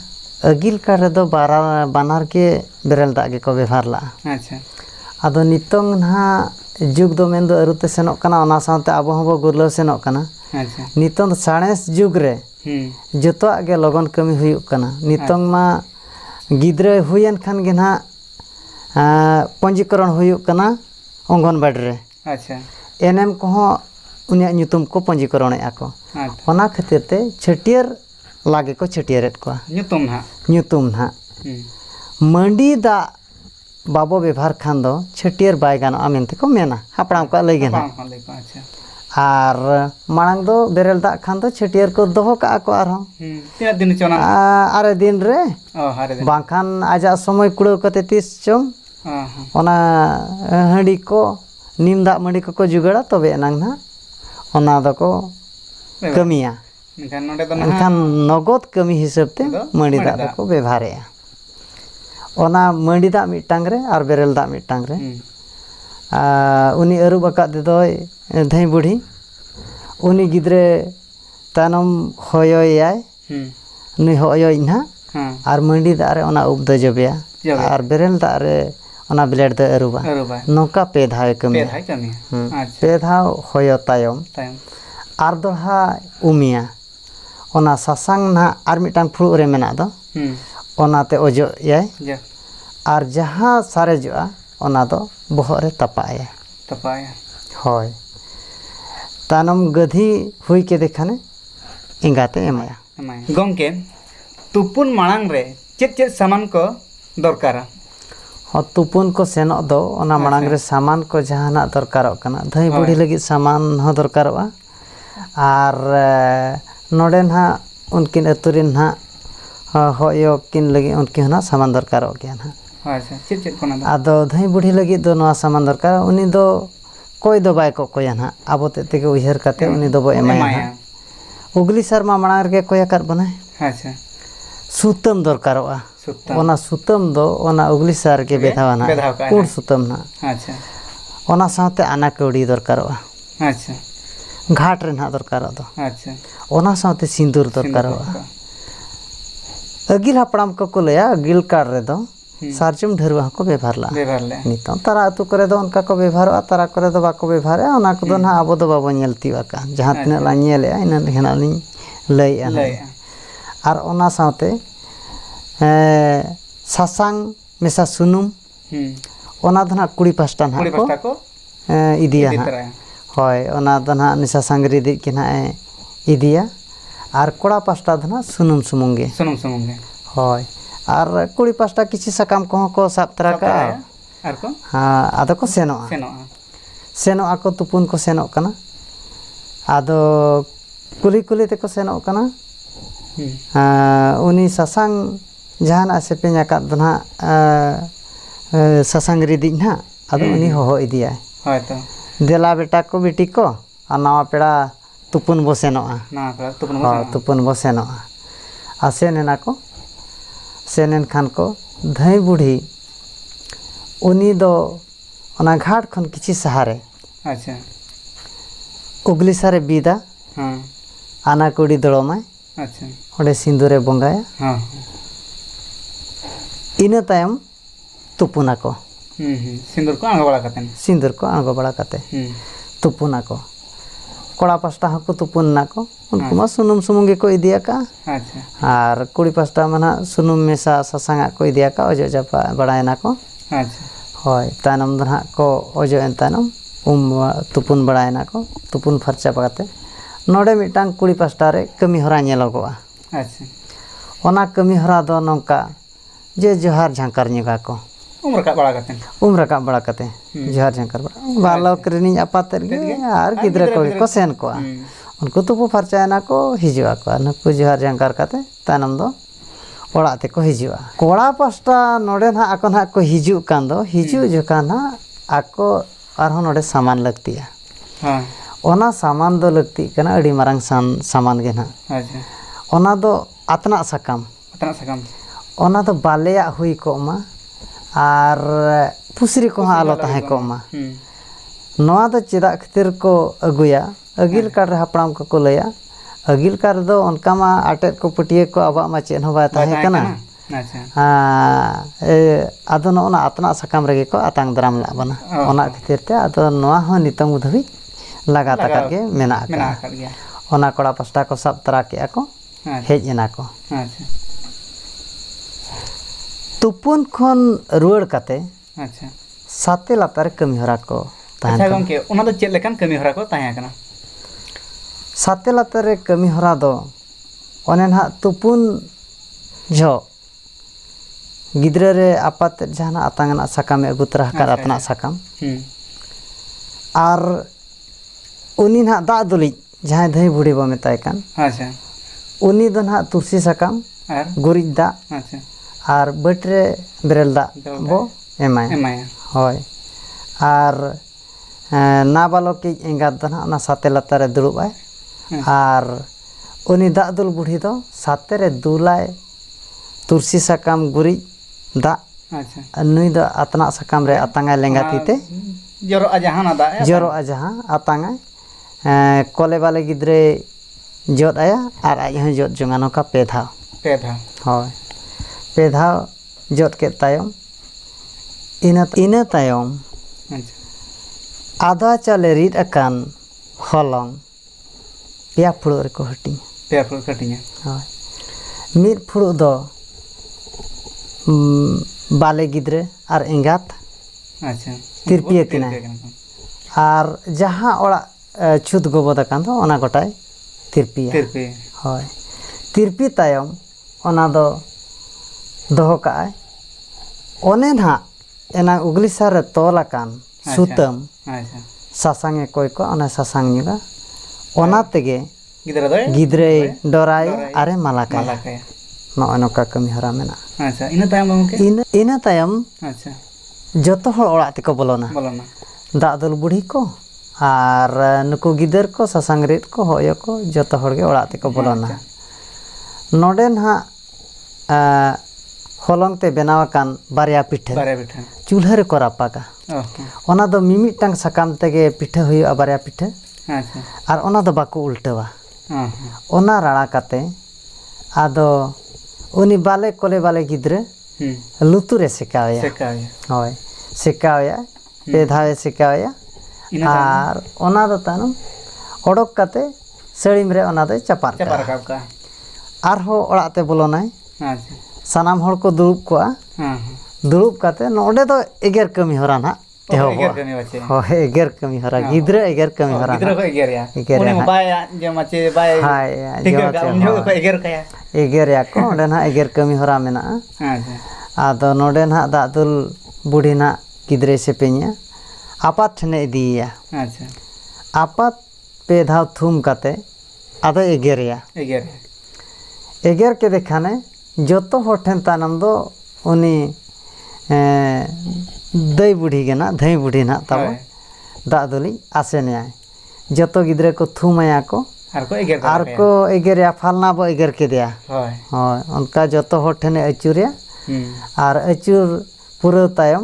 ᱟᱹᱜᱤᱞ ᱠᱟᱞ ᱨᱮᱫᱚ ᱵᱟᱱᱟᱨ ᱜᱮ ᱵᱮᱨᱮᱞ ᱫᱟᱜ ᱜᱮᱠᱚ ᱵᱮᱵᱷᱟᱨ ᱞᱟᱜᱼᱟ ᱟᱪᱪᱷᱟ ᱟᱫᱚ ᱱᱤᱛᱚᱝ ᱱᱟᱦᱟᱜ ᱡᱩᱜᱽ ᱫᱚ ᱢᱮᱱᱫᱚ ᱟᱹᱨᱩᱛᱮ ᱥᱮᱱᱚᱜ ᱠᱟᱱᱟ ᱚᱱᱟ ᱥᱟᱶᱛᱮ ᱟᱵᱚ ᱦᱚᱸᱵᱚᱱ ᱜᱩᱨᱞᱟᱹᱣ ᱥᱮᱱᱚᱜ ᱠᱟᱱᱟ ᱱᱤᱛᱚᱝ ᱥᱟᱬᱮᱥ ᱡᱩᱜᱽ ᱨᱮ ᱡᱚᱛᱚᱣᱟᱜ ᱜᱮ ᱞᱚᱜᱚᱱ ᱠᱟᱹᱢᱤ ᱦᱩᱭᱩᱜ ᱠᱟᱱᱟ ᱱᱤᱛᱚᱝ ᱢᱟ ᱜᱤᱫᱽᱨᱟᱹᱭ ᱦᱩᱭᱮᱱ ᱠᱷᱟᱱ ᱜᱮ ᱱᱟᱦᱟᱜ ᱯᱚᱧᱡᱤᱠᱚᱨᱚᱱ ᱦᱩᱭᱩᱜ ᱠᱟᱱᱟ ᱚᱝᱜᱚᱱᱵᱟᱲᱤ ᱨᱮ ᱮᱱᱮᱢ ᱠᱚᱦᱚᱸ ᱩᱱᱤᱭᱟᱜ ᱧᱩᱛᱩᱢ ᱠᱚ ᱯᱚᱧᱡᱤᱠᱚᱨᱚᱱᱮᱜᱼᱟ ᱠᱚ ᱚᱱᱟ ᱠᱷᱟᱹᱛᱤᱨ ᱛᱮ ᱪᱷᱟᱹᱴᱭᱟᱹᱨ ᱞᱟᱜᱮ ᱠᱚ ᱪᱷᱟᱹᱴᱭᱟᱹᱨᱮᱫ ᱠᱚᱣᱟ ᱧᱩᱛᱩᱢ ᱱᱟᱦᱟᱜ ᱢᱟᱹᱰᱤ ᱫᱟᱜ ᱵᱟᱵᱚ ᱵᱮᱵᱷᱟᱨ ᱠᱷᱟᱱ ᱫᱚ ᱪᱷᱟᱹᱴᱭᱟᱹᱨ ᱵᱟᱭ ᱜᱟᱱᱚᱜᱼᱟ ᱢᱮᱱᱛᱮ ᱠᱚ ᱢᱮᱱᱟ ᱦᱟᱯᱲᱟᱢ ᱠᱚᱣᱟᱜ ᱞᱟᱹᱭ ᱜᱮ ᱦᱟᱯᱲᱟᱢ ᱱᱟᱦᱟᱜ ᱠᱚᱣᱟᱜ ᱞᱟᱹᱭ ᱠᱚᱜᱼᱟ ᱟᱪᱪᱷᱟ ᱟᱨ ᱢᱟᱲᱟᱝ ᱫᱚ ᱵᱮᱨᱮᱞ ᱫᱟᱜ ᱠᱷᱟᱱ ᱫᱚ ᱪᱷᱟᱹᱴᱭᱟᱹᱨ ᱠᱚ ᱫᱚᱦᱚ ᱠᱟᱜᱼᱟ ᱠᱚ ᱟᱨᱦᱚᱸ ᱦᱩᱸ ᱛᱤᱱᱟᱹᱜ ᱫᱤᱱ ᱪᱚ ᱚᱱᱟ ᱫᱚ? ᱟᱨ ᱟᱨᱮ ᱫᱤᱱ ᱨᱮ ᱚ ᱦᱟᱨᱮ ᱫᱤᱱ ᱵᱟᱝᱠᱷᱟᱱ ᱟᱡᱟᱜ ᱥᱚᱢᱚᱭ ᱠᱩᱲᱟᱹᱣ ᱠᱟᱛᱮ ᱛᱤᱥ ᱪᱚᱝ ᱚ ᱦᱚᱸ ᱚᱱᱟ ᱦᱟᱺᱰᱤ ᱠᱚ ᱱᱤᱢ ᱫᱟᱜ ᱢᱟᱹᱰᱤ ᱠᱚᱠᱚ ᱡᱳᱜᱟᱲᱟ ᱛᱚᱵᱮ ᱟᱱᱟᱝ ᱱᱟᱦᱟᱜ ᱚᱱᱟ ᱫᱚᱠᱚ ᱠᱟᱹᱢᱤᱭᱟ ᱢᱮᱱᱠᱷᱟᱱ ᱱᱚᱰᱮ ᱫᱚ ᱢᱮᱱᱠᱷᱟᱱ ᱱᱚᱜᱚᱫ ᱠᱟᱹᱢᱤ ᱦᱤᱥᱟᱹᱵ ᱛᱮ ᱢᱟᱹᱰᱤ ᱫᱟᱜ ᱫᱚᱠᱚ ᱵᱮᱵᱷᱟᱨᱮᱜᱼᱟ ᱚᱱᱟ ᱢᱟᱹᱰᱤ ᱫᱟᱜ ᱢᱤᱫᱴᱟᱝ ᱨᱮ ᱟᱨ ᱵᱮᱨᱮᱞ ᱫᱟᱜ ᱢᱤᱫᱴᱟᱝ ᱨᱮ ᱟᱨ ᱩᱱᱤ ᱟᱹᱨᱩᱵ ᱟᱠᱟᱫ ᱛᱮᱫᱚᱭ ᱫᱷᱟᱹᱭ ᱵᱩᱰᱷᱤ ᱩᱱᱤ ᱜᱤᱫᱽᱨᱟᱹ ᱛᱟᱭᱱᱚᱢ ᱦᱚᱭᱚᱭᱮᱭᱟᱭ ᱱᱩᱭ ᱦᱚᱭᱚᱭᱤᱡ ᱱᱟᱦᱟᱜ ᱟᱨ ᱢᱟᱹᱰᱤ ᱫᱟᱜ ᱨᱮ ᱚᱱᱟ ᱩᱵ ᱫᱚᱭ ᱡᱚᱵᱮᱭᱟ ᱟᱨ ᱵᱮᱨᱮᱞ ᱫᱟᱜ ᱨᱮ ᱚᱱᱟ ᱵᱞᱮᱰ ᱫᱚᱭ ᱟᱹᱨᱩᱵᱟ ᱱᱚᱝᱠᱟ ᱯᱮ ᱫᱷᱟᱣᱮ ᱠᱟᱹᱢᱤᱭᱟ ᱯᱮ ᱫᱷᱟᱣ ᱦᱚᱭᱚ ᱛᱟᱭᱚᱢ ᱟᱨ ᱫᱚᱲᱦᱟ ᱩᱢᱮᱭᱟ ᱚᱱᱟ ᱥᱟᱥᱟᱝ ᱱᱟᱦᱟᱜ ᱟᱨ ᱢᱤᱫᱴᱟᱝ ᱯᱷᱩᱲᱩᱜ ᱨᱮ ᱢᱮᱱᱟᱜ ᱫᱚ ᱚᱱᱟᱛᱮ ᱚᱡᱚᱜ ᱮᱭᱟᱭ ᱟᱨ ᱡᱟᱦᱟᱸ ᱥᱟᱨᱮᱡᱚᱜᱼᱟ ᱚᱱᱟ ᱫᱚ ᱵᱚᱦᱚᱜ ᱨᱮ ᱛᱟᱯᱟᱜ ᱟᱭᱟᱭ ᱦᱳᱭ ᱛᱟᱭᱱᱚᱢ ᱜᱟᱹᱫᱷᱤ ᱦᱩᱭ ᱠᱮᱫᱮ ᱠᱷᱟᱱᱮ ᱮᱸᱜᱟᱛᱮ ᱮᱢᱟᱭᱟ ᱮᱢᱟᱭᱟ᱾ ᱜᱚᱝᱠᱮ ᱛᱩᱯᱩᱱ ᱢᱟᱲᱟᱝ ᱨᱮ ᱪᱮᱫ ᱪᱮᱫ ᱥᱟᱢᱟᱱ ᱠᱚ ᱫᱚᱨᱠᱟᱨᱟ? ᱦᱚᱸ ᱛᱩᱯᱩᱱ ᱠᱚ ᱥᱮᱱᱚᱜ ᱫᱚ ᱚᱱᱟ ᱢᱟᱲᱟᱝ ᱨᱮ ᱥᱟᱢᱟᱱ ᱠᱚ ᱡᱟᱦᱟᱱᱟᱜ ᱫᱚᱨᱠᱟᱨᱚᱜ ᱠᱟᱱᱟ ᱫᱷᱟᱹᱭ ᱵᱩᱰᱷᱤ ᱞᱟᱹᱜᱤᱫ ᱥᱟᱢᱟᱱ ᱦᱚᱸ ᱫᱚᱨᱠᱟᱨᱚᱜᱼᱟ ᱟᱨ ᱱᱚᱰᱮ ᱱᱟᱦᱟᱜ ᱩᱱᱠᱤᱱ ᱟᱹᱛᱩ ᱨᱮᱱ ᱱᱟᱦᱟᱜ ᱦᱚᱜ ᱭᱚ ᱠᱤᱱ ᱞᱟᱹᱜᱤᱫ ᱩᱱᱠᱤᱱ ᱦᱚᱸ ᱱᱟᱦᱟᱜ ᱥᱟᱢᱟᱱ ᱫᱚᱨᱠᱟᱨᱚᱜ ᱜᱮᱭᱟ ᱱᱟᱦᱟᱜ᱾ ᱦᱳᱭ ᱟᱪᱪᱷᱟ ᱪᱮᱫ ᱪᱮᱫ ᱠᱚ ᱚᱱᱟ ᱫᱚ? ᱟᱫᱚ ᱫᱷᱟᱹᱭ ᱵᱩᱰᱷᱤ ᱞᱟᱹᱜᱤᱫ ᱫᱚ ᱱᱚᱣᱟ ᱥᱟᱢᱟᱱ ᱫᱚᱨᱠᱟᱨᱚᱜᱼᱟ ᱩᱱᱤ ᱫᱚ ᱠᱚᱭ ᱫᱚ ᱵᱟᱭ ᱠᱚᱠᱚᱭᱟ ᱱᱟᱦᱟᱜ ᱟᱵᱚ ᱛᱮᱫ ᱛᱮᱜᱮ ᱩᱭᱦᱟᱹᱨ ᱠᱟᱛᱮ ᱩᱱᱤ ᱫᱚᱵᱚ ᱮᱢᱟᱭᱟ ᱱᱟᱦᱟᱜ᱾ ᱩᱜᱽᱞᱤ ᱥᱟᱨ ᱢᱟ ᱢᱟᱲᱟᱝ ᱨᱮᱜᱮ ᱠᱚᱭ ᱟᱠᱟᱫ ᱵᱚᱱᱟᱭ ᱟᱪᱪᱷᱟ ᱥᱩᱛᱟᱹᱢ ᱫᱚᱨᱠᱟᱨᱚᱜᱼᱟ ᱥᱩᱛᱟᱹᱢ ᱚᱱᱟ ᱥᱩᱛᱟᱹᱢ ᱫᱚ ᱚᱱᱟ ᱩᱜᱽᱞᱤ ᱥᱟᱨ ᱜᱮ ᱵᱮᱫᱷᱟᱣᱟ ᱱᱟᱦᱟᱜ ᱵᱮᱫᱷᱟᱣ ᱠᱟᱜᱼᱟᱭ ᱯᱩᱸᱰ ᱱᱟᱦᱟᱜ᱾ ᱥᱩᱛᱟᱹᱢ ᱱᱟᱦᱟᱜ ᱟᱪᱪᱷᱟ ᱚᱱᱟ ᱥᱟᱶᱛᱮ ᱟᱱᱟ ᱠᱟᱹᱣᱰᱤ ᱫᱚᱨᱠᱟᱨᱚᱜᱼᱟ ᱟᱪᱪᱷᱟ ᱜᱷᱟᱴ ᱨᱮ ᱱᱟᱦᱟᱜ ᱫᱚᱨᱠᱟᱨᱚᱜ ᱫᱚ ᱟᱪᱪᱷᱟ ᱚᱱᱟ ᱥᱟᱶᱛᱮ ᱥᱤᱸᱫᱩᱨ ᱫᱚᱨᱠᱟᱨᱚᱜᱼᱟ ᱟᱹᱜᱤᱞ ᱦᱟᱯᱲᱟᱢ ᱠᱚᱠᱚ ᱞᱟᱹᱭᱟ ᱟᱹᱜᱤᱞ ᱠᱟᱞ ᱨᱮᱫᱚ ᱥᱟᱨᱡᱚᱢ ᱰᱷᱟᱹᱨᱣᱟᱹ ᱦᱚᱸᱠᱚ ᱵᱮᱵᱷᱟᱨ ᱞᱟᱜᱼᱟ ᱵᱮᱵᱷᱟᱨ ᱞᱮᱫᱼᱟ ᱱᱤᱛᱚᱝ ᱛᱟᱨᱟ ᱟᱹᱛᱩ ᱠᱚᱨᱮ ᱫᱚ ᱚᱱᱠᱟ ᱠᱚ ᱵᱮᱵᱷᱟᱨᱚᱜᱼᱟ ᱛᱟᱨᱟ ᱠᱚᱨᱮ ᱫᱚ ᱵᱟᱠᱚ ᱵᱮᱵᱷᱟᱨᱮᱜᱼᱟ ᱚᱱᱟ ᱠᱚᱫᱚ ᱱᱟᱦᱟᱜ ᱟᱵᱚ ᱫᱚ ᱵᱟᱵᱚ ᱧᱮᱞ ᱛᱤᱭᱳᱜ ᱟᱠᱟᱫᱼᱟ ᱡᱟᱦᱟᱸ ᱛᱤᱱᱟᱹᱜ ᱞᱟᱝ ᱧᱮᱞᱮᱜᱼᱟ ᱤᱱᱟᱹᱜ ᱜᱮ ᱱᱟᱦᱟᱜ ᱞᱤᱧ ᱞᱟᱹᱭᱮᱜᱼᱟ ᱞᱟᱹᱭᱮᱜᱼᱟ ᱟᱨ ᱚᱱᱟ ᱥᱟᱶᱛᱮ ᱥᱟᱥᱟᱝ ᱢᱮᱥᱟ ᱥᱩᱱᱩᱢ ᱚᱱᱟ ᱫᱚ ᱱᱟᱦᱟᱜ ᱠᱩᱲᱤ ᱯᱟᱥᱴᱟ ᱱᱟᱦᱟᱜ ᱠᱚ ᱤᱫᱤᱭᱟ ᱦᱟᱸᱜ ᱦᱳᱭ ᱚᱱᱟ ᱫᱚ ᱱᱟᱦᱟᱜ ᱩᱱᱤ ᱥᱟᱥᱟᱝ ᱨᱤᱫᱤᱡ ᱜᱮ ᱱᱟᱦᱟᱜ ᱮ ᱤᱫᱤᱭᱟ ᱟᱨ ᱠᱚᱲᱟ ᱯᱟᱥᱴᱟ ᱫᱚ ᱱᱟᱦᱟᱜ ᱥᱩᱱᱩᱢ ᱥᱩᱢᱩᱝ ᱜᱮ ᱥᱩᱱᱩᱢ ᱥᱩᱢᱩᱝ ᱜᱮ ᱦᱳᱭ ᱟᱨ ᱠᱩᱲᱤ ᱯᱟᱥᱴᱟ ᱠᱤᱪᱷᱩ ᱥᱟᱠᱟᱢ ᱠᱚᱦᱚᱸ ᱠᱚ ᱥᱟᱵ ᱛᱚᱨᱟ ᱠᱟᱜᱼᱟ ᱟᱨ ᱠᱚ ᱟᱫᱚ ᱠᱚ ᱥᱮᱱᱚᱜᱼᱟ ᱥᱮᱱᱚᱜᱼᱟ ᱥᱮᱱᱚᱜ ᱟᱠᱚ ᱛᱩᱯᱩᱱ ᱠᱚ ᱥᱮᱱᱚᱜ ᱠᱟᱱᱟ ᱟᱫᱚ ᱠᱩᱞᱦᱤ ᱠᱩᱞᱦᱤ ᱛᱮᱠᱚ ᱥᱮᱱᱚᱜ ᱠᱟᱱᱟ ᱩᱱᱤ ᱥᱟᱥᱟᱝ ᱡᱟᱦᱟᱱᱟᱜ ᱥᱮᱯᱮᱧ ᱟᱠᱟᱫ ᱫᱚ ᱱᱟᱦᱟᱜ ᱥᱟᱥᱟᱝ ᱨᱤᱫᱤᱡ ᱱᱟᱦᱟᱜ ᱟᱫᱚ ᱦᱩᱸ ᱩᱱᱤ ᱦᱩᱸ ᱦᱚᱦᱚ ᱤᱫᱤᱭᱟᱭ ᱦᱳᱭ ᱛᱚ ᱫᱮᱞᱟ ᱵᱮᱴᱟ ᱠᱚ ᱵᱤᱴᱤ ᱠᱚ ᱟᱨ ᱱᱟᱣᱟ ᱯᱮᱲᱟ ᱛᱩᱯᱩᱱ ᱵᱚ ᱥᱮᱱᱚᱜᱼᱟ ᱱᱟᱣᱟ ᱯᱮᱲᱟ ᱛᱩᱯᱩᱱ ᱵᱚ ᱦᱚᱸ ᱥᱮᱱᱚᱜᱼᱟ ᱛᱩᱯᱩᱱ ᱵᱚ ᱥᱮᱱᱚᱜᱼᱟ ᱟᱨ ᱥᱮᱱ ᱮᱱᱟ ᱠᱚ ᱥᱮᱱ ᱮᱱ ᱠᱷᱟᱱ ᱠᱚ ᱫᱷᱟᱹᱭ ᱵᱩᱰᱷᱤ ᱩᱱᱤ ᱫᱚ ᱚᱱᱟ ᱜᱷᱟᱴ ᱠᱷᱚᱱ ᱠᱤᱪᱷᱤ ᱥᱟᱦᱟ ᱨᱮ ᱟᱪᱪᱷᱟ ᱩᱜᱽᱞᱤ ᱥᱟᱨ ᱮ ᱵᱤᱫᱟ ᱦᱮᱸ ᱟᱱᱟ ᱠᱩᱲᱤ ᱫᱚᱲᱚᱢᱟᱭ ᱟᱪᱪᱷᱟ ᱚᱸᱰᱮ ᱥᱤᱸᱫᱩᱨᱮ ᱵᱚᱸᱜᱟᱭᱟ ᱦᱮᱸ ᱤᱱᱟᱹ ᱛᱟᱭᱚᱢ ᱛᱩᱯᱩᱱᱟᱠᱚ ᱥᱤᱸᱫᱩᱨ ᱠᱚ ᱟᱬᱜᱚ ᱵᱟᱲᱟ ᱠᱟᱛᱮ ᱥᱤᱸᱫᱩᱨ ᱠᱚ ᱟᱬᱜᱚ ᱵᱟᱲᱟ ᱠᱟᱛᱮ ᱛᱩᱯᱩᱱᱟᱠᱚ ᱠᱚᱲᱟ ᱯᱟᱥᱴᱟ ᱦᱚᱸᱠᱚ ᱛᱩᱯᱩᱱ ᱱᱟᱠᱚ ᱩᱱᱠᱩ ᱢᱟ ᱥᱩᱱᱩᱢ ᱥᱩᱢᱩᱝ ᱜᱮᱠᱚ ᱤᱫᱤ ᱟᱠᱟᱜᱼᱟ ᱟᱨ ᱠᱩᱲᱤ ᱯᱟᱥᱴᱟ ᱢᱟ ᱱᱟᱦᱟᱜ ᱥᱩᱱᱩᱢ ᱢᱮᱥᱟ ᱥᱟᱥᱟᱝ ᱟᱜ ᱠᱚ ᱤᱫᱤ ᱟᱠᱟᱜᱼᱟ ᱚᱡᱚᱜ ᱡᱟᱯᱟᱜ ᱵᱟᱲᱟᱭ ᱱᱟᱠᱚ ᱦᱳᱭ ᱛᱟᱭᱱᱚᱢ ᱫᱚ ᱱᱟᱦᱟᱜ ᱠᱚ ᱚᱡᱚᱜ ᱮᱱ ᱛᱟᱭᱱᱚᱢ ᱩᱢ ᱛᱩᱯᱩᱱ ᱵᱟᱲᱟᱭ ᱱᱟᱠᱚ ᱛᱩᱯᱩᱱ ᱯᱷᱟᱨᱪᱟ ᱵᱟᱲᱟ ᱠᱟᱛᱮ ᱱᱚᱰᱮ ᱢᱤᱫᱴᱟᱝ ᱠᱩᱲᱤ ᱯᱟᱥᱴᱟ ᱨᱮ ᱠᱟᱹᱢᱤ ᱦᱚᱨᱟ ᱧᱮᱞᱚᱜᱚᱜᱼᱟ ᱚᱱᱟ ᱠᱟᱹᱢᱤ ᱦᱚᱨᱟ ᱫᱚ ᱱᱚᱝᱠᱟ ᱡᱮ ᱡᱚᱦᱟᱨ ᱡᱷᱟᱝᱠᱟᱨ ᱧᱚᱜᱟ ᱠᱚ ᱩᱢ ᱨᱟᱠᱟᱵ ᱵᱟᱲᱟ ᱠᱟᱛᱮ ᱩᱢ ᱨᱟᱠᱟᱵ ᱵᱟᱲᱟ ᱠᱟᱛᱮ ᱡᱚᱦᱟᱨ ᱡᱷᱟᱝᱠᱟᱨ ᱵᱟᱲᱟ ᱵᱟᱞᱚᱠ ᱨᱤᱱᱤᱡ ᱟᱯᱟᱛ ᱛᱮᱫ ᱜᱮ ᱟᱨ ᱜᱤᱫᱽᱨᱟᱹ ᱠᱚᱜᱮ ᱠᱚ ᱥᱮᱱ ᱠᱚᱜᱼᱟ ᱩᱱᱠᱩ ᱛᱩᱯᱩ ᱯᱷᱟᱨᱪᱟᱭᱮᱱᱟ ᱠᱚ ᱦᱤᱡᱩᱜ ᱟᱠᱚ ᱟᱨ ᱱᱩᱠᱩ ᱡᱚᱦᱟᱨ ᱡᱷᱟᱝᱠᱟᱨ ᱠᱟᱛᱮ ᱛᱟᱭᱱᱚᱢ ᱫᱚ ᱚᱲᱟᱜ ᱛᱮᱠᱚ ᱦᱤᱡᱩᱜᱼᱟ ᱠᱚᱲᱟ ᱯᱟᱥᱴᱟ ᱱᱚᱰᱮ ᱱᱟᱦᱟᱜ ᱟᱠᱚ ᱱᱟᱦᱟᱜ ᱠᱚ ᱦᱤᱡᱩᱜ ᱠᱟᱱ ᱫᱚ ᱦᱤᱡᱩᱜ ᱡᱚᱠᱷᱟᱱ ᱱᱟᱦᱟᱜ ᱟᱠᱚ ᱟᱨᱦᱚᱸ ᱱᱚᱰᱮ ᱥᱟᱢᱟᱱ ᱞᱟᱹᱠᱛᱤᱜᱼᱟ ᱚᱱᱟ ᱥᱟᱢᱟᱱ ᱫᱚ ᱞᱟᱹᱠᱛᱤᱜ ᱠᱟᱱᱟ ᱟᱹᱰᱤ ᱢᱟᱨᱟᱝ ᱥᱟᱢᱟᱱ ᱜᱮ ᱱᱟᱦᱟᱜ ᱚᱱᱟ ᱫᱚ ᱟᱛᱱᱟᱜ ᱥᱟᱠᱟᱢ ᱟᱛᱱᱟᱜ ᱥᱟᱠᱟᱢ ᱚᱱᱟ ᱫᱚ ᱵᱟᱞᱮᱭᱟᱜ ᱦᱩᱭ ᱠᱚᱜ ᱢᱟ ᱟᱨ ᱯᱩᱥᱨᱤ ᱠᱚᱦᱚᱸ ᱟᱞᱚ ᱛᱟᱦᱮᱸ ᱠᱚᱜ ᱢᱟ ᱱᱚᱣᱟ ᱫᱚ ᱪᱮᱫᱟᱜ ᱠᱷᱟᱹᱛᱤᱨ ᱠᱚ ᱟᱹᱜᱩᱭᱟ ᱟᱹᱜᱤᱞ ᱠᱟᱞ ᱨᱮ ᱦᱟᱯᱲᱟᱢ ᱠᱚᱠᱚ ᱞᱟᱹᱭᱟ ᱟᱹᱜᱤᱞ ᱠᱟᱞ ᱨᱮᱫᱚ ᱚᱱᱠᱟ ᱢᱟ ᱟᱴᱮᱫ ᱠᱚ ᱯᱟᱹᱴᱭᱟᱹ ᱠᱚ ᱟᱵᱚᱣᱟᱜ ᱢᱟ ᱪᱮᱫ ᱦᱚᱸ ᱵᱟᱭ ᱛᱟᱦᱮᱸ ᱠᱟᱱᱟ ᱟᱫᱚ ᱱᱚᱜᱼᱚ ᱱᱟ ᱟᱛᱱᱟᱜ ᱥᱟᱠᱟᱢ ᱨᱮᱜᱮ ᱠᱚ ᱟᱛᱟᱝ ᱫᱟᱨᱟᱢ ᱞᱮᱫ ᱵᱚᱱᱟ ᱚᱱᱟ ᱠᱷᱟᱹᱛᱤᱨ ᱛᱮ ᱟᱫᱚ ᱱᱚᱣᱟ ᱦᱚᱸ ᱱᱤᱛᱚᱝ ᱫᱷᱟᱹᱵᱤᱡ ᱞᱟᱜᱟᱛ ᱟᱠᱟᱫ ᱜᱮ ᱢᱮᱱᱟᱜ ᱟᱠᱟᱫᱼᱟ ᱚᱱᱟ ᱠᱚᱲᱟ ᱯᱟᱥᱴᱟ ᱠᱚ ᱥᱟᱵ ᱛᱟᱨᱟ ᱠᱮᱫᱼᱟ ᱠᱚ ᱦᱮᱡ ᱮᱱᱟ ᱠᱚ᱾ ᱟᱪᱪᱷᱟ᱾ ᱛᱩᱯᱩᱱ ᱠᱷᱚᱱ ᱨᱩᱣᱟᱹᱲ ᱠᱟᱛᱮ ᱟᱪᱪᱷᱟ᱾ ᱥᱟᱛᱮ ᱞᱟᱛᱟᱨ ᱨᱮ ᱠᱟᱹᱢᱤ ᱦᱚᱨᱟ ᱠᱚ ᱛᱟᱦᱮᱱ ᱟᱪᱪᱷᱟ ᱠᱟᱱᱟ᱾ ᱜᱚᱝᱠᱮ ᱚᱱᱟ ᱫᱚ ᱪᱮᱫ ᱞᱮᱠᱟᱱ ᱠᱟᱹᱢᱤ ᱦᱚᱨᱟ ᱠᱚ ᱛᱟᱦᱮᱸ ᱠᱟᱱᱟ? ᱥᱟᱛᱮ ᱞᱟᱛᱟᱨ ᱨᱮ ᱠᱟᱹᱢᱤ ᱦᱚᱨᱟ ᱫᱚ ᱚᱱᱮ ᱱᱟᱦᱟᱜ ᱛᱩᱯᱩᱱ ᱡᱚᱦᱚᱜ ᱜᱤᱫᱽᱨᱟᱹ ᱨᱮ ᱟᱯᱟᱛ ᱛᱮᱫ ᱡᱟᱦᱟᱱᱟᱜ ᱟᱛᱟᱝ ᱟᱱᱟᱜ ᱥᱟᱠᱟᱢᱮ ᱟᱹᱜᱩ ᱛᱚᱨᱟ ᱟᱠᱟᱫ ᱟᱪᱪᱷᱟ ᱟᱛᱱᱟᱜ ᱟᱪᱪᱷᱟ ᱥᱟᱠᱟᱢ᱾ ᱦᱩᱸ᱾ ᱟᱨ ᱩᱱᱤ ᱱᱟᱦᱟᱜ ᱫᱟᱜ ᱫᱩᱞᱤᱡ ᱡᱟᱦᱟᱸᱭ ᱫᱷᱟᱹᱭ ᱵᱩᱰᱷᱤ ᱵᱚ ᱢᱮᱛᱟᱭ ᱠᱟᱱ ᱟᱪᱪᱷᱟ ᱩᱱᱤ ᱫᱚ ᱱᱟᱦᱟᱜ ᱛᱩᱞᱥᱤ ᱥᱟᱠᱟᱢ ᱟᱨ ᱜᱩᱨᱤᱡ ᱫᱟᱜ ᱟᱪᱪᱷᱟ ᱟᱨ ᱵᱟᱹᱴᱤ ᱨᱮ ᱵᱮᱨᱮᱞ ᱫᱟᱜ ᱵᱮᱨᱮᱞ ᱫᱟᱜ ᱵᱚ ᱮᱢᱟᱭᱟ ᱮᱢᱟᱭᱟ ᱦᱳᱭ ᱟᱨ ᱮᱸ, ᱱᱟᱵᱟᱞᱚᱠᱤᱡ ᱮᱸᱜᱟᱛ ᱫᱚ ᱱᱟᱦᱟᱜ ᱚᱱᱟ ᱥᱟᱛᱮ ᱞᱟᱛᱟᱨ ᱨᱮ ᱫᱩᱲᱩᱵ ᱟᱭ ᱟᱨ ᱩᱱᱤ ᱫᱟᱜ ᱫᱩᱞ ᱵᱩᱰᱷᱤ ᱫᱚ ᱥᱟᱛᱮ ᱨᱮ ᱫᱩᱞᱟᱭ ᱛᱩᱞᱥᱤ ᱥᱟᱠᱟᱢ ᱜᱩᱨᱤᱡ ᱫᱟᱜ ᱟᱪᱪᱷᱟ ᱟᱨ ᱱᱩᱭ ᱫᱚ ᱟᱛᱱᱟᱜ ᱥᱟᱠᱟᱢ ᱨᱮ ᱟᱛᱟᱝᱟᱭ ᱞᱮᱸᱜᱟ ᱛᱤ ᱛᱮ ᱡᱚᱨᱚᱜᱼᱟ ᱡᱟᱦᱟᱱᱟᱜ ᱫᱟᱜ ᱮ ᱡᱚᱨᱚᱜᱼᱟ ᱡᱟᱦᱟᱸ ᱟᱛᱟᱝᱟᱭ ᱠᱚᱞᱮ ᱵᱟᱞᱮ ᱜᱤᱫᱽᱨᱟᱹᱭ ᱡᱚᱫ ᱟᱭᱟ ᱟᱨ ᱟᱡ ᱦᱚᱸᱭ ᱡᱚᱫ ᱡᱚᱝᱟ ᱱᱚᱝᱠᱟ ᱯᱮ ᱫᱷᱟᱣ ᱯᱮ ᱫᱷᱟᱣ ᱦᱳᱭ ᱯᱮ ᱫᱷᱟᱣ ᱡᱚᱫ ᱠᱮᱫ ᱛᱟᱭᱚᱢ ᱤᱱᱟᱹ ᱤᱱᱟᱹ ᱛᱟᱭᱚᱢ ᱟᱪᱪᱷᱟ ᱟᱫᱽᱣᱟ ᱪᱟᱣᱞᱮ ᱨᱤᱫ ᱟᱠᱟᱱ ᱦᱚᱞᱚᱝ ᱯᱮᱭᱟ ᱯᱷᱩᱲᱩᱜ ᱨᱮᱠᱚ ᱦᱟᱹᱴᱤᱧᱟ ᱯᱮ ᱯᱷᱩᱲᱩᱜ ᱦᱟᱹᱴᱤᱧᱟ ᱦᱳᱭ ᱢᱤᱫ ᱯᱷᱩᱲᱩᱜ ᱫᱚ ᱵᱟᱞᱮ ᱜᱤᱫᱽᱨᱟᱹ ᱟᱨ ᱮᱸᱜᱟᱛ ᱟᱪᱪᱷᱟ ᱛᱤᱨᱯᱤᱭᱟᱹ ᱠᱤᱱᱟᱭ ᱟᱨ ᱡᱟᱦᱟᱸ ᱚᱲᱟᱜ ᱪᱷᱩᱛ ᱜᱚᱵᱚᱫ ᱟᱠᱟᱱ ᱫᱚ ᱚᱱᱟ ᱜᱚᱴᱟᱭ ᱛᱤᱨᱯᱤᱭᱟ ᱛᱤᱨᱯᱤ ᱦᱳᱭ ᱛᱤᱨᱯᱤ ᱛᱟᱭᱚᱢ ᱚᱱᱟ ᱫᱚ ᱫᱚᱦᱚ ᱠᱟᱜᱼᱟᱭ ᱚᱱᱮ ᱱᱟᱦᱟᱜ ᱮᱱᱟᱝ ᱩᱜᱽᱞᱤ ᱥᱟᱨ ᱨᱮ ᱛᱚᱞ ᱟᱠᱟᱱ ᱟᱪᱪᱷᱟ ᱥᱩᱛᱟᱹᱢ ᱟᱪᱪᱷᱟ ᱥᱟᱥᱟᱝ ᱮ ᱠᱚᱭ ᱠᱚᱜᱼᱟ ᱚᱱᱟ ᱥᱟᱥᱟᱝ ᱧᱚᱜᱼᱟ ᱚᱱᱟ ᱛᱮᱜᱮ ᱜᱤᱫᱽᱨᱟᱹ ᱫᱚᱭ ᱜᱤᱫᱽᱨᱟᱹᱭ ᱰᱚᱨᱟᱭ ᱟᱨᱮ ᱢᱟᱞᱟ ᱠᱟᱭᱟ ᱢᱟᱞᱟ ᱠᱟᱭᱟ ᱱᱚᱜᱼᱚᱭ ᱱᱚᱝᱠᱟ ᱠᱟᱹᱢᱤ ᱦᱚᱨᱟ ᱢᱮᱱᱟᱜᱼᱟ ᱟᱪᱪᱷᱟ ᱤᱱᱟᱹ ᱛᱟᱭᱚᱢ ᱫᱚ ᱜᱚᱢᱠᱮ ᱤᱱᱟᱹ ᱤᱱᱟᱹ ᱛᱟᱭᱚᱢ ᱟᱪᱪᱷᱟ ᱡᱚᱛᱚ ᱦᱚᱲ ᱚᱲᱟᱜ ᱛᱮᱠᱚ ᱵᱚᱞᱚᱱᱟ ᱵᱚᱞᱚᱱᱟ ᱫᱟᱜ ᱫᱩᱞ ᱵᱩᱰᱷᱤ ᱠᱚ ᱟᱨ ᱱᱩᱠᱩ ᱜᱤᱫᱟᱹᱨ ᱠᱚ ᱥᱟᱥᱟᱝ ᱨᱤᱫ ᱠᱚ ᱦᱚᱭᱚ ᱠᱚ ᱡᱚᱛᱚ ᱦᱚᱲ ᱜᱮ ᱚᱲᱟᱜ ᱛᱮᱠᱚ ᱵᱚᱞᱚᱱᱟ ᱟᱪᱪᱷᱟ ᱱᱚᱰᱮ ᱱᱟᱦᱟᱜ ᱟᱸ, ᱦᱚᱞᱚᱝ ᱛᱮ ᱵᱮᱱᱟᱣ ᱟᱠᱟᱱ ᱵᱟᱨᱭᱟ ᱯᱤᱴᱷᱟᱹ ᱵᱟᱨᱭᱟ ᱯᱤᱴᱷᱟᱹ ᱪᱩᱞᱦᱟᱹ ᱨᱮᱠᱚ ᱨᱟᱯᱟᱜᱟ ᱚ ᱦᱚᱸ ᱚᱱᱟ ᱫᱚ ᱢᱤᱢᱤᱫᱴᱟᱝ ᱥᱟᱠᱟᱢ ᱛᱮᱜᱮ ᱯᱤᱴᱷᱟᱹ ᱦᱩᱭᱩᱜᱼᱟ ᱵᱟᱨᱭᱟ ᱯᱤᱴᱷᱟᱹ ᱟᱪᱪᱷᱟ ᱟᱨ ᱚᱱᱟ ᱫᱚ ᱵᱟᱠᱚ ᱩᱞᱴᱟᱹᱣᱟ ᱦᱮᱸ ᱦᱮᱸ ᱚᱱᱟ ᱨᱟᱲᱟ ᱠᱟᱛᱮ ᱟᱫᱚ ᱩᱱᱤ ᱵᱟᱞᱮ ᱠᱚᱞᱮ ᱵᱟᱞᱮ ᱜᱤᱫᱽᱨᱟᱹ ᱦᱩᱸ ᱞᱩᱛᱩᱨᱮ ᱥᱮᱠᱟᱣᱮᱭᱟ ᱥᱮᱠᱟᱣᱮᱭᱟ ᱦᱳᱭ ᱥᱮᱠᱟᱣᱮᱭᱟ ᱯᱮ ᱫᱷᱟᱣᱮ ᱥᱮᱠᱟᱣᱮᱭᱟ ᱤᱱᱟᱹ ᱛᱟᱭᱱᱚᱢ ᱟᱨ ᱚᱱᱟ ᱫᱚ ᱛᱟᱭᱱᱚᱢ ᱚᱰᱳᱠ ᱠᱟᱛᱮ ᱥᱟᱹᱲᱤᱢ ᱨᱮ ᱚᱱᱟ ᱫᱚᱭ ᱪᱟᱯᱟᱫ ᱪᱟᱯᱟ ᱠᱟᱜᱼᱟ ᱨᱟᱠᱟᱵ ᱠᱟᱜᱼᱟ ᱟᱨᱦᱚᱸ ᱚᱲᱟᱜ ᱛᱮ ᱵᱚᱞᱚᱱᱟᱭ ᱟᱪᱪᱷᱟ ᱥᱟᱱᱟᱢ ᱦᱚᱲ ᱠᱚ ᱫᱩᱲᱩᱵ ᱠᱚᱜᱼᱟ ᱦᱮᱸ ᱦᱮᱸ ᱫᱩᱲᱩᱵ ᱠᱟᱛᱮ ᱱᱚᱸᱰᱮ ᱫᱚ ᱮᱜᱮᱨ ᱠᱟᱹᱢᱤ ᱦᱚᱨᱟ ᱱᱟᱦᱟᱜ ᱮᱦᱚᱵᱚᱜᱼᱟ ᱮᱜᱮᱨ ᱠᱟᱹᱢᱤ ᱦᱚᱨᱟ ᱪᱮ ᱦᱳᱭ ᱮᱜᱮᱨ ᱠᱟᱹᱢᱤ ᱦᱚᱨᱟ ᱦᱮᱸ᱾ ᱜᱤᱫᱽᱨᱟᱹ ᱮᱜᱮᱨ ᱠᱟᱹᱢᱤ ᱦᱚᱨᱟ ᱜᱤᱫᱽᱨᱟᱹ ᱠᱚ ᱮᱜᱮᱨᱮᱭᱟ ᱮᱜᱮᱨᱮᱭᱟ ᱩᱱᱤ ᱢᱟ ᱦᱟᱸᱜ ᱵᱟᱭ ᱡᱚᱢᱟ ᱪᱮ ᱵᱟᱭ ᱦᱳᱭ ᱴᱷᱤᱠᱟᱹ ᱡᱚᱢᱟ ᱠᱟᱜᱼᱟ ᱪᱮ ᱩᱱ ᱡᱚᱦᱚᱜ ᱦᱳᱭ ᱜᱮᱠᱚ ᱮᱜᱮᱨ ᱠᱟᱭᱟ ᱮᱜᱮᱨᱮᱭᱟ ᱠᱚ ᱚᱸᱰᱮ ᱱᱟᱦᱟᱜ ᱮᱜᱮᱨ ᱠᱟᱹᱢᱤ ᱦᱚᱨᱟ ᱢᱮᱱᱟᱜᱼᱟ ᱦᱮᱸ ᱦᱮᱸ ᱟᱫᱚ ᱱᱚᱰᱮ ᱱᱟᱦᱟᱜ ᱫᱟᱜ ᱫᱩᱞ ᱵᱩᱰᱷᱤ ᱱᱟᱦᱟᱜ ᱜᱤᱫᱽᱨᱟᱹᱭ ᱥᱮᱯᱮᱧᱮᱜᱼᱟ ᱟᱯᱟᱛ ᱴᱷᱮᱱᱮ ᱤᱫᱤᱭᱮᱭᱟ ᱟᱪᱪᱷᱟ ᱟᱯᱟᱛ ᱯᱮ ᱫᱷᱟᱣ ᱛᱷᱩᱢ ᱠᱟᱛᱮ ᱟᱫᱚᱭ ᱮᱜᱮᱨᱮᱭᱟ ᱮᱜᱮᱨᱮᱭᱟ ᱮᱜᱮᱨ ᱠᱮᱫᱮ ᱠᱷᱟᱱᱮ ᱡᱚᱛᱚ ᱦᱚᱲ ᱴᱷᱮᱱ ᱛᱟᱭᱱᱚᱢ ᱫᱚ ᱩᱱᱤ ᱫᱟᱹᱭ ᱵᱩᱰᱷᱤ ᱜᱮ ᱱᱟᱜ ᱫᱷᱟᱹᱭ ᱵᱩᱰᱷᱤ ᱱᱟᱜ ᱛᱟᱵᱚᱱ ᱫᱟᱜ ᱫᱩᱞᱤᱧ ᱟᱥᱮᱱᱮᱭᱟᱭ ᱡᱚᱛᱚ ᱜᱤᱫᱽᱨᱟᱹ ᱠᱚ ᱛᱷᱩᱢᱟᱭᱟ ᱠᱚ ᱟᱨ ᱠᱚ ᱮᱜᱮᱨ ᱟᱨ ᱠᱚ ᱮᱜᱮᱨᱮᱭᱟ ᱯᱷᱟᱞᱱᱟ ᱵᱚ ᱮᱜᱮᱨ ᱠᱮᱫᱮᱭᱟ ᱦᱳᱭ ᱦᱳᱭ ᱚᱱᱠᱟ ᱡᱚᱛᱚ ᱦᱚᱲ ᱴᱷᱮᱱᱮ ᱟᱹᱪᱩᱨᱮᱭᱟ ᱟᱨ ᱟᱹᱪᱩᱨ ᱯᱩᱨᱟᱹᱣ ᱛᱟᱭᱚᱢ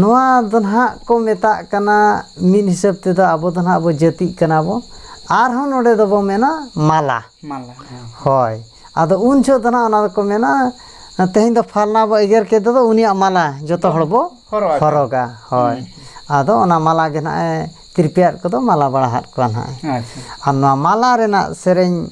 ᱱᱚᱣᱟ ᱫᱚ ᱱᱟᱦᱟᱜ ᱠᱚ ᱢᱮᱛᱟᱜ ᱠᱟᱱᱟ ᱢᱤᱫ ᱦᱤᱥᱟᱹᱵ ᱛᱮᱫᱚ ᱟᱵᱚ ᱫᱚ ᱱᱟᱦᱟᱜ ᱵᱚ ᱡᱟᱹᱛᱤᱜ ᱠᱟᱱᱟ ᱵᱚ ᱟᱨᱦᱚᱸ ᱱᱚᱰᱮ ᱫᱚᱵᱚ ᱢᱮᱱᱟ ᱢᱟᱞᱟ ᱢᱟᱞᱟ ᱦᱮᱸ ᱦᱳᱭ ᱟᱫᱚ ᱩᱱ ᱡᱚᱦᱚᱜ ᱫᱚ ᱱᱟᱦᱟᱜ ᱚᱱᱟ ᱫᱚᱠᱚ ᱢᱮᱱᱟ ᱛᱮᱦᱮᱧ ᱫᱚ ᱯᱷᱟᱞᱱᱟ ᱵᱚ ᱮᱜᱮᱨ ᱠᱮᱫᱮ ᱫᱚ ᱩᱱᱤᱭᱟᱜ ᱢᱟᱞᱟ ᱡᱚᱛᱚ ᱦᱚᱲ ᱵᱚ ᱦᱚᱨᱚᱜ ᱟᱠᱚ᱾ ᱦᱚᱨᱚᱜᱟ ᱦᱳᱭ ᱟᱫᱚ ᱚᱱᱟ ᱢᱟᱞᱟ ᱜᱮ ᱱᱟᱦᱟᱜ ᱮ ᱛᱤᱨᱯᱤᱭᱟᱫ ᱠᱚᱫᱚ ᱢᱟᱞᱟ ᱵᱟᱲᱟ ᱦᱟᱫ ᱠᱚᱣᱟ ᱱᱟᱦᱟᱜ ᱟᱪᱪᱷᱟ ᱟᱨ ᱱᱚᱣᱟ ᱢᱟᱞᱟ ᱨᱮᱱᱟᱜ ᱥᱮᱨᱮᱧ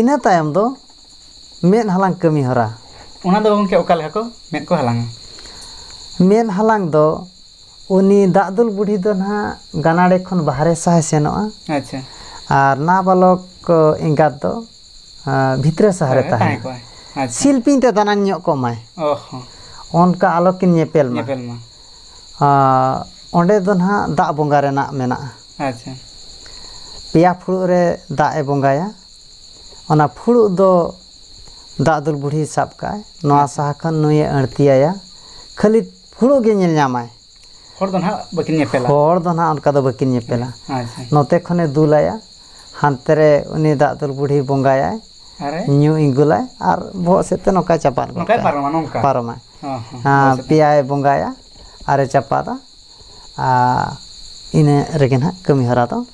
ᱤᱱᱟᱹ ᱛᱟᱭᱚᱢ ᱫᱚ ᱢᱮᱫ ᱦᱟᱞᱟᱝ ᱠᱟᱹᱢᱤ ᱦᱚᱨᱟ ᱚᱱᱟ ᱫᱚ ᱜᱚᱢᱠᱮ ᱚᱠᱟ ᱞᱮᱠᱟ ᱠᱚ ᱢᱮᱫ ᱠᱚ ᱦᱟᱞᱟᱝᱟ ᱢᱮᱫ ᱦᱟᱞᱟᱝ ᱫᱚ ᱩᱱᱤ ᱫᱟᱜ ᱫᱩᱞ ᱵᱩᱰᱷᱤ ᱫᱚ ᱱᱟᱦᱟᱜ ᱜᱟᱱᱟᱲᱮ ᱠᱷᱚᱱ ᱵᱟᱦᱨᱮ ᱥᱟᱦᱟᱭ ᱥᱮᱱᱚᱜᱼᱟ ᱟᱪᱪᱷᱟ ᱟᱨ ᱱᱟᱵᱟᱞᱚᱠ ᱮᱸᱜᱟᱛ ᱫᱚ ᱵᱷᱤᱛᱨᱤ ᱥᱟᱦᱟᱨᱮ ᱛᱟᱦᱮᱸ ᱠᱚᱜᱼᱟᱭ ᱥᱤᱞᱯᱤᱧ ᱛᱮ ᱫᱟᱱᱟᱝ ᱧᱚᱜ ᱠᱚᱜ ᱢᱟᱭ ᱚᱱᱠᱟ ᱟᱞᱚ ᱠᱤᱱ ᱧᱮᱯᱮᱞ ᱢᱟ ᱚᱸᱰᱮ ᱫᱚ ᱱᱟᱦᱟᱜ ᱫᱟᱜ ᱵᱚᱸᱜᱟ ᱨᱮᱱᱟᱜ ᱢᱮᱱᱟᱜᱼᱟ ᱯᱮᱭᱟ ᱯᱷᱩᱲᱩᱜ ᱨᱮ ᱫᱟᱜ ᱮ ᱵᱚᱸᱜᱟᱭᱟ ᱚᱱᱟ ᱯᱷᱩᱲᱩᱜ ᱫᱚ ᱫᱟᱜ ᱫᱩᱞ ᱵᱩᱰᱷᱤᱭ ᱥᱟᱵ ᱠᱟᱜᱼᱟᱭ ᱱᱚᱣᱟ ᱥᱟᱦᱟ ᱠᱷᱚᱱ ᱱᱩᱭᱮ ᱟᱬᱛᱤ ᱟᱭᱟ ᱠᱷᱟᱹᱞᱤ ᱯᱷᱩᱲᱩᱜ ᱜᱮ ᱧᱮᱞ ᱧᱟᱢᱟᱭ ᱦᱚᱲ ᱫᱚ ᱱᱟᱦᱟᱜ ᱵᱟᱹᱠᱤᱱ ᱧᱮᱯᱮᱞᱟ ᱦᱚᱲ ᱫᱚ ᱱᱟᱦᱟᱜ ᱚᱱᱠᱟ ᱫᱚ ᱵᱟᱹᱠᱤᱱ ᱧᱮᱯᱮᱞᱟ ᱟᱪᱪᱷᱟ ᱱᱚᱛᱮ ᱠᱷᱚᱱᱮ ᱫᱩᱞᱟᱭᱟ ᱦᱟᱱᱛᱮ ᱨᱮ ᱩᱱᱤ ᱫᱟᱜ ᱫᱩᱞ ᱵᱩᱰᱷᱤ ᱵᱚᱸᱜᱟᱭᱟᱭ ᱟᱨᱮ ᱧᱩ ᱤᱸᱜᱩᱞᱟᱭ ᱟᱨ ᱵᱚᱦᱚᱜ ᱥᱮᱫ ᱛᱮ ᱱᱚᱝᱠᱟᱭ ᱪᱟᱯᱟᱫ ᱜᱚᱫ ᱱᱚᱝᱠᱟᱭ ᱠᱟᱜᱼᱟ ᱯᱟᱨᱚᱢᱟ ᱱᱚᱝᱠᱟ ᱯᱟᱨᱚᱢᱟᱭ ᱦᱚᱸ ᱦᱚᱸ ᱟᱨ ᱯᱮᱭᱟᱭ ᱵᱚᱸᱜᱟᱭᱟ ᱟᱨᱮ ᱪᱟᱯᱟᱫᱟ ᱟᱨ ᱤᱱᱟᱹ ᱨᱮᱜᱮ ᱱᱟᱦᱟᱜ ᱠᱟᱹᱢᱤ ᱦᱚᱨᱟ ᱫᱚ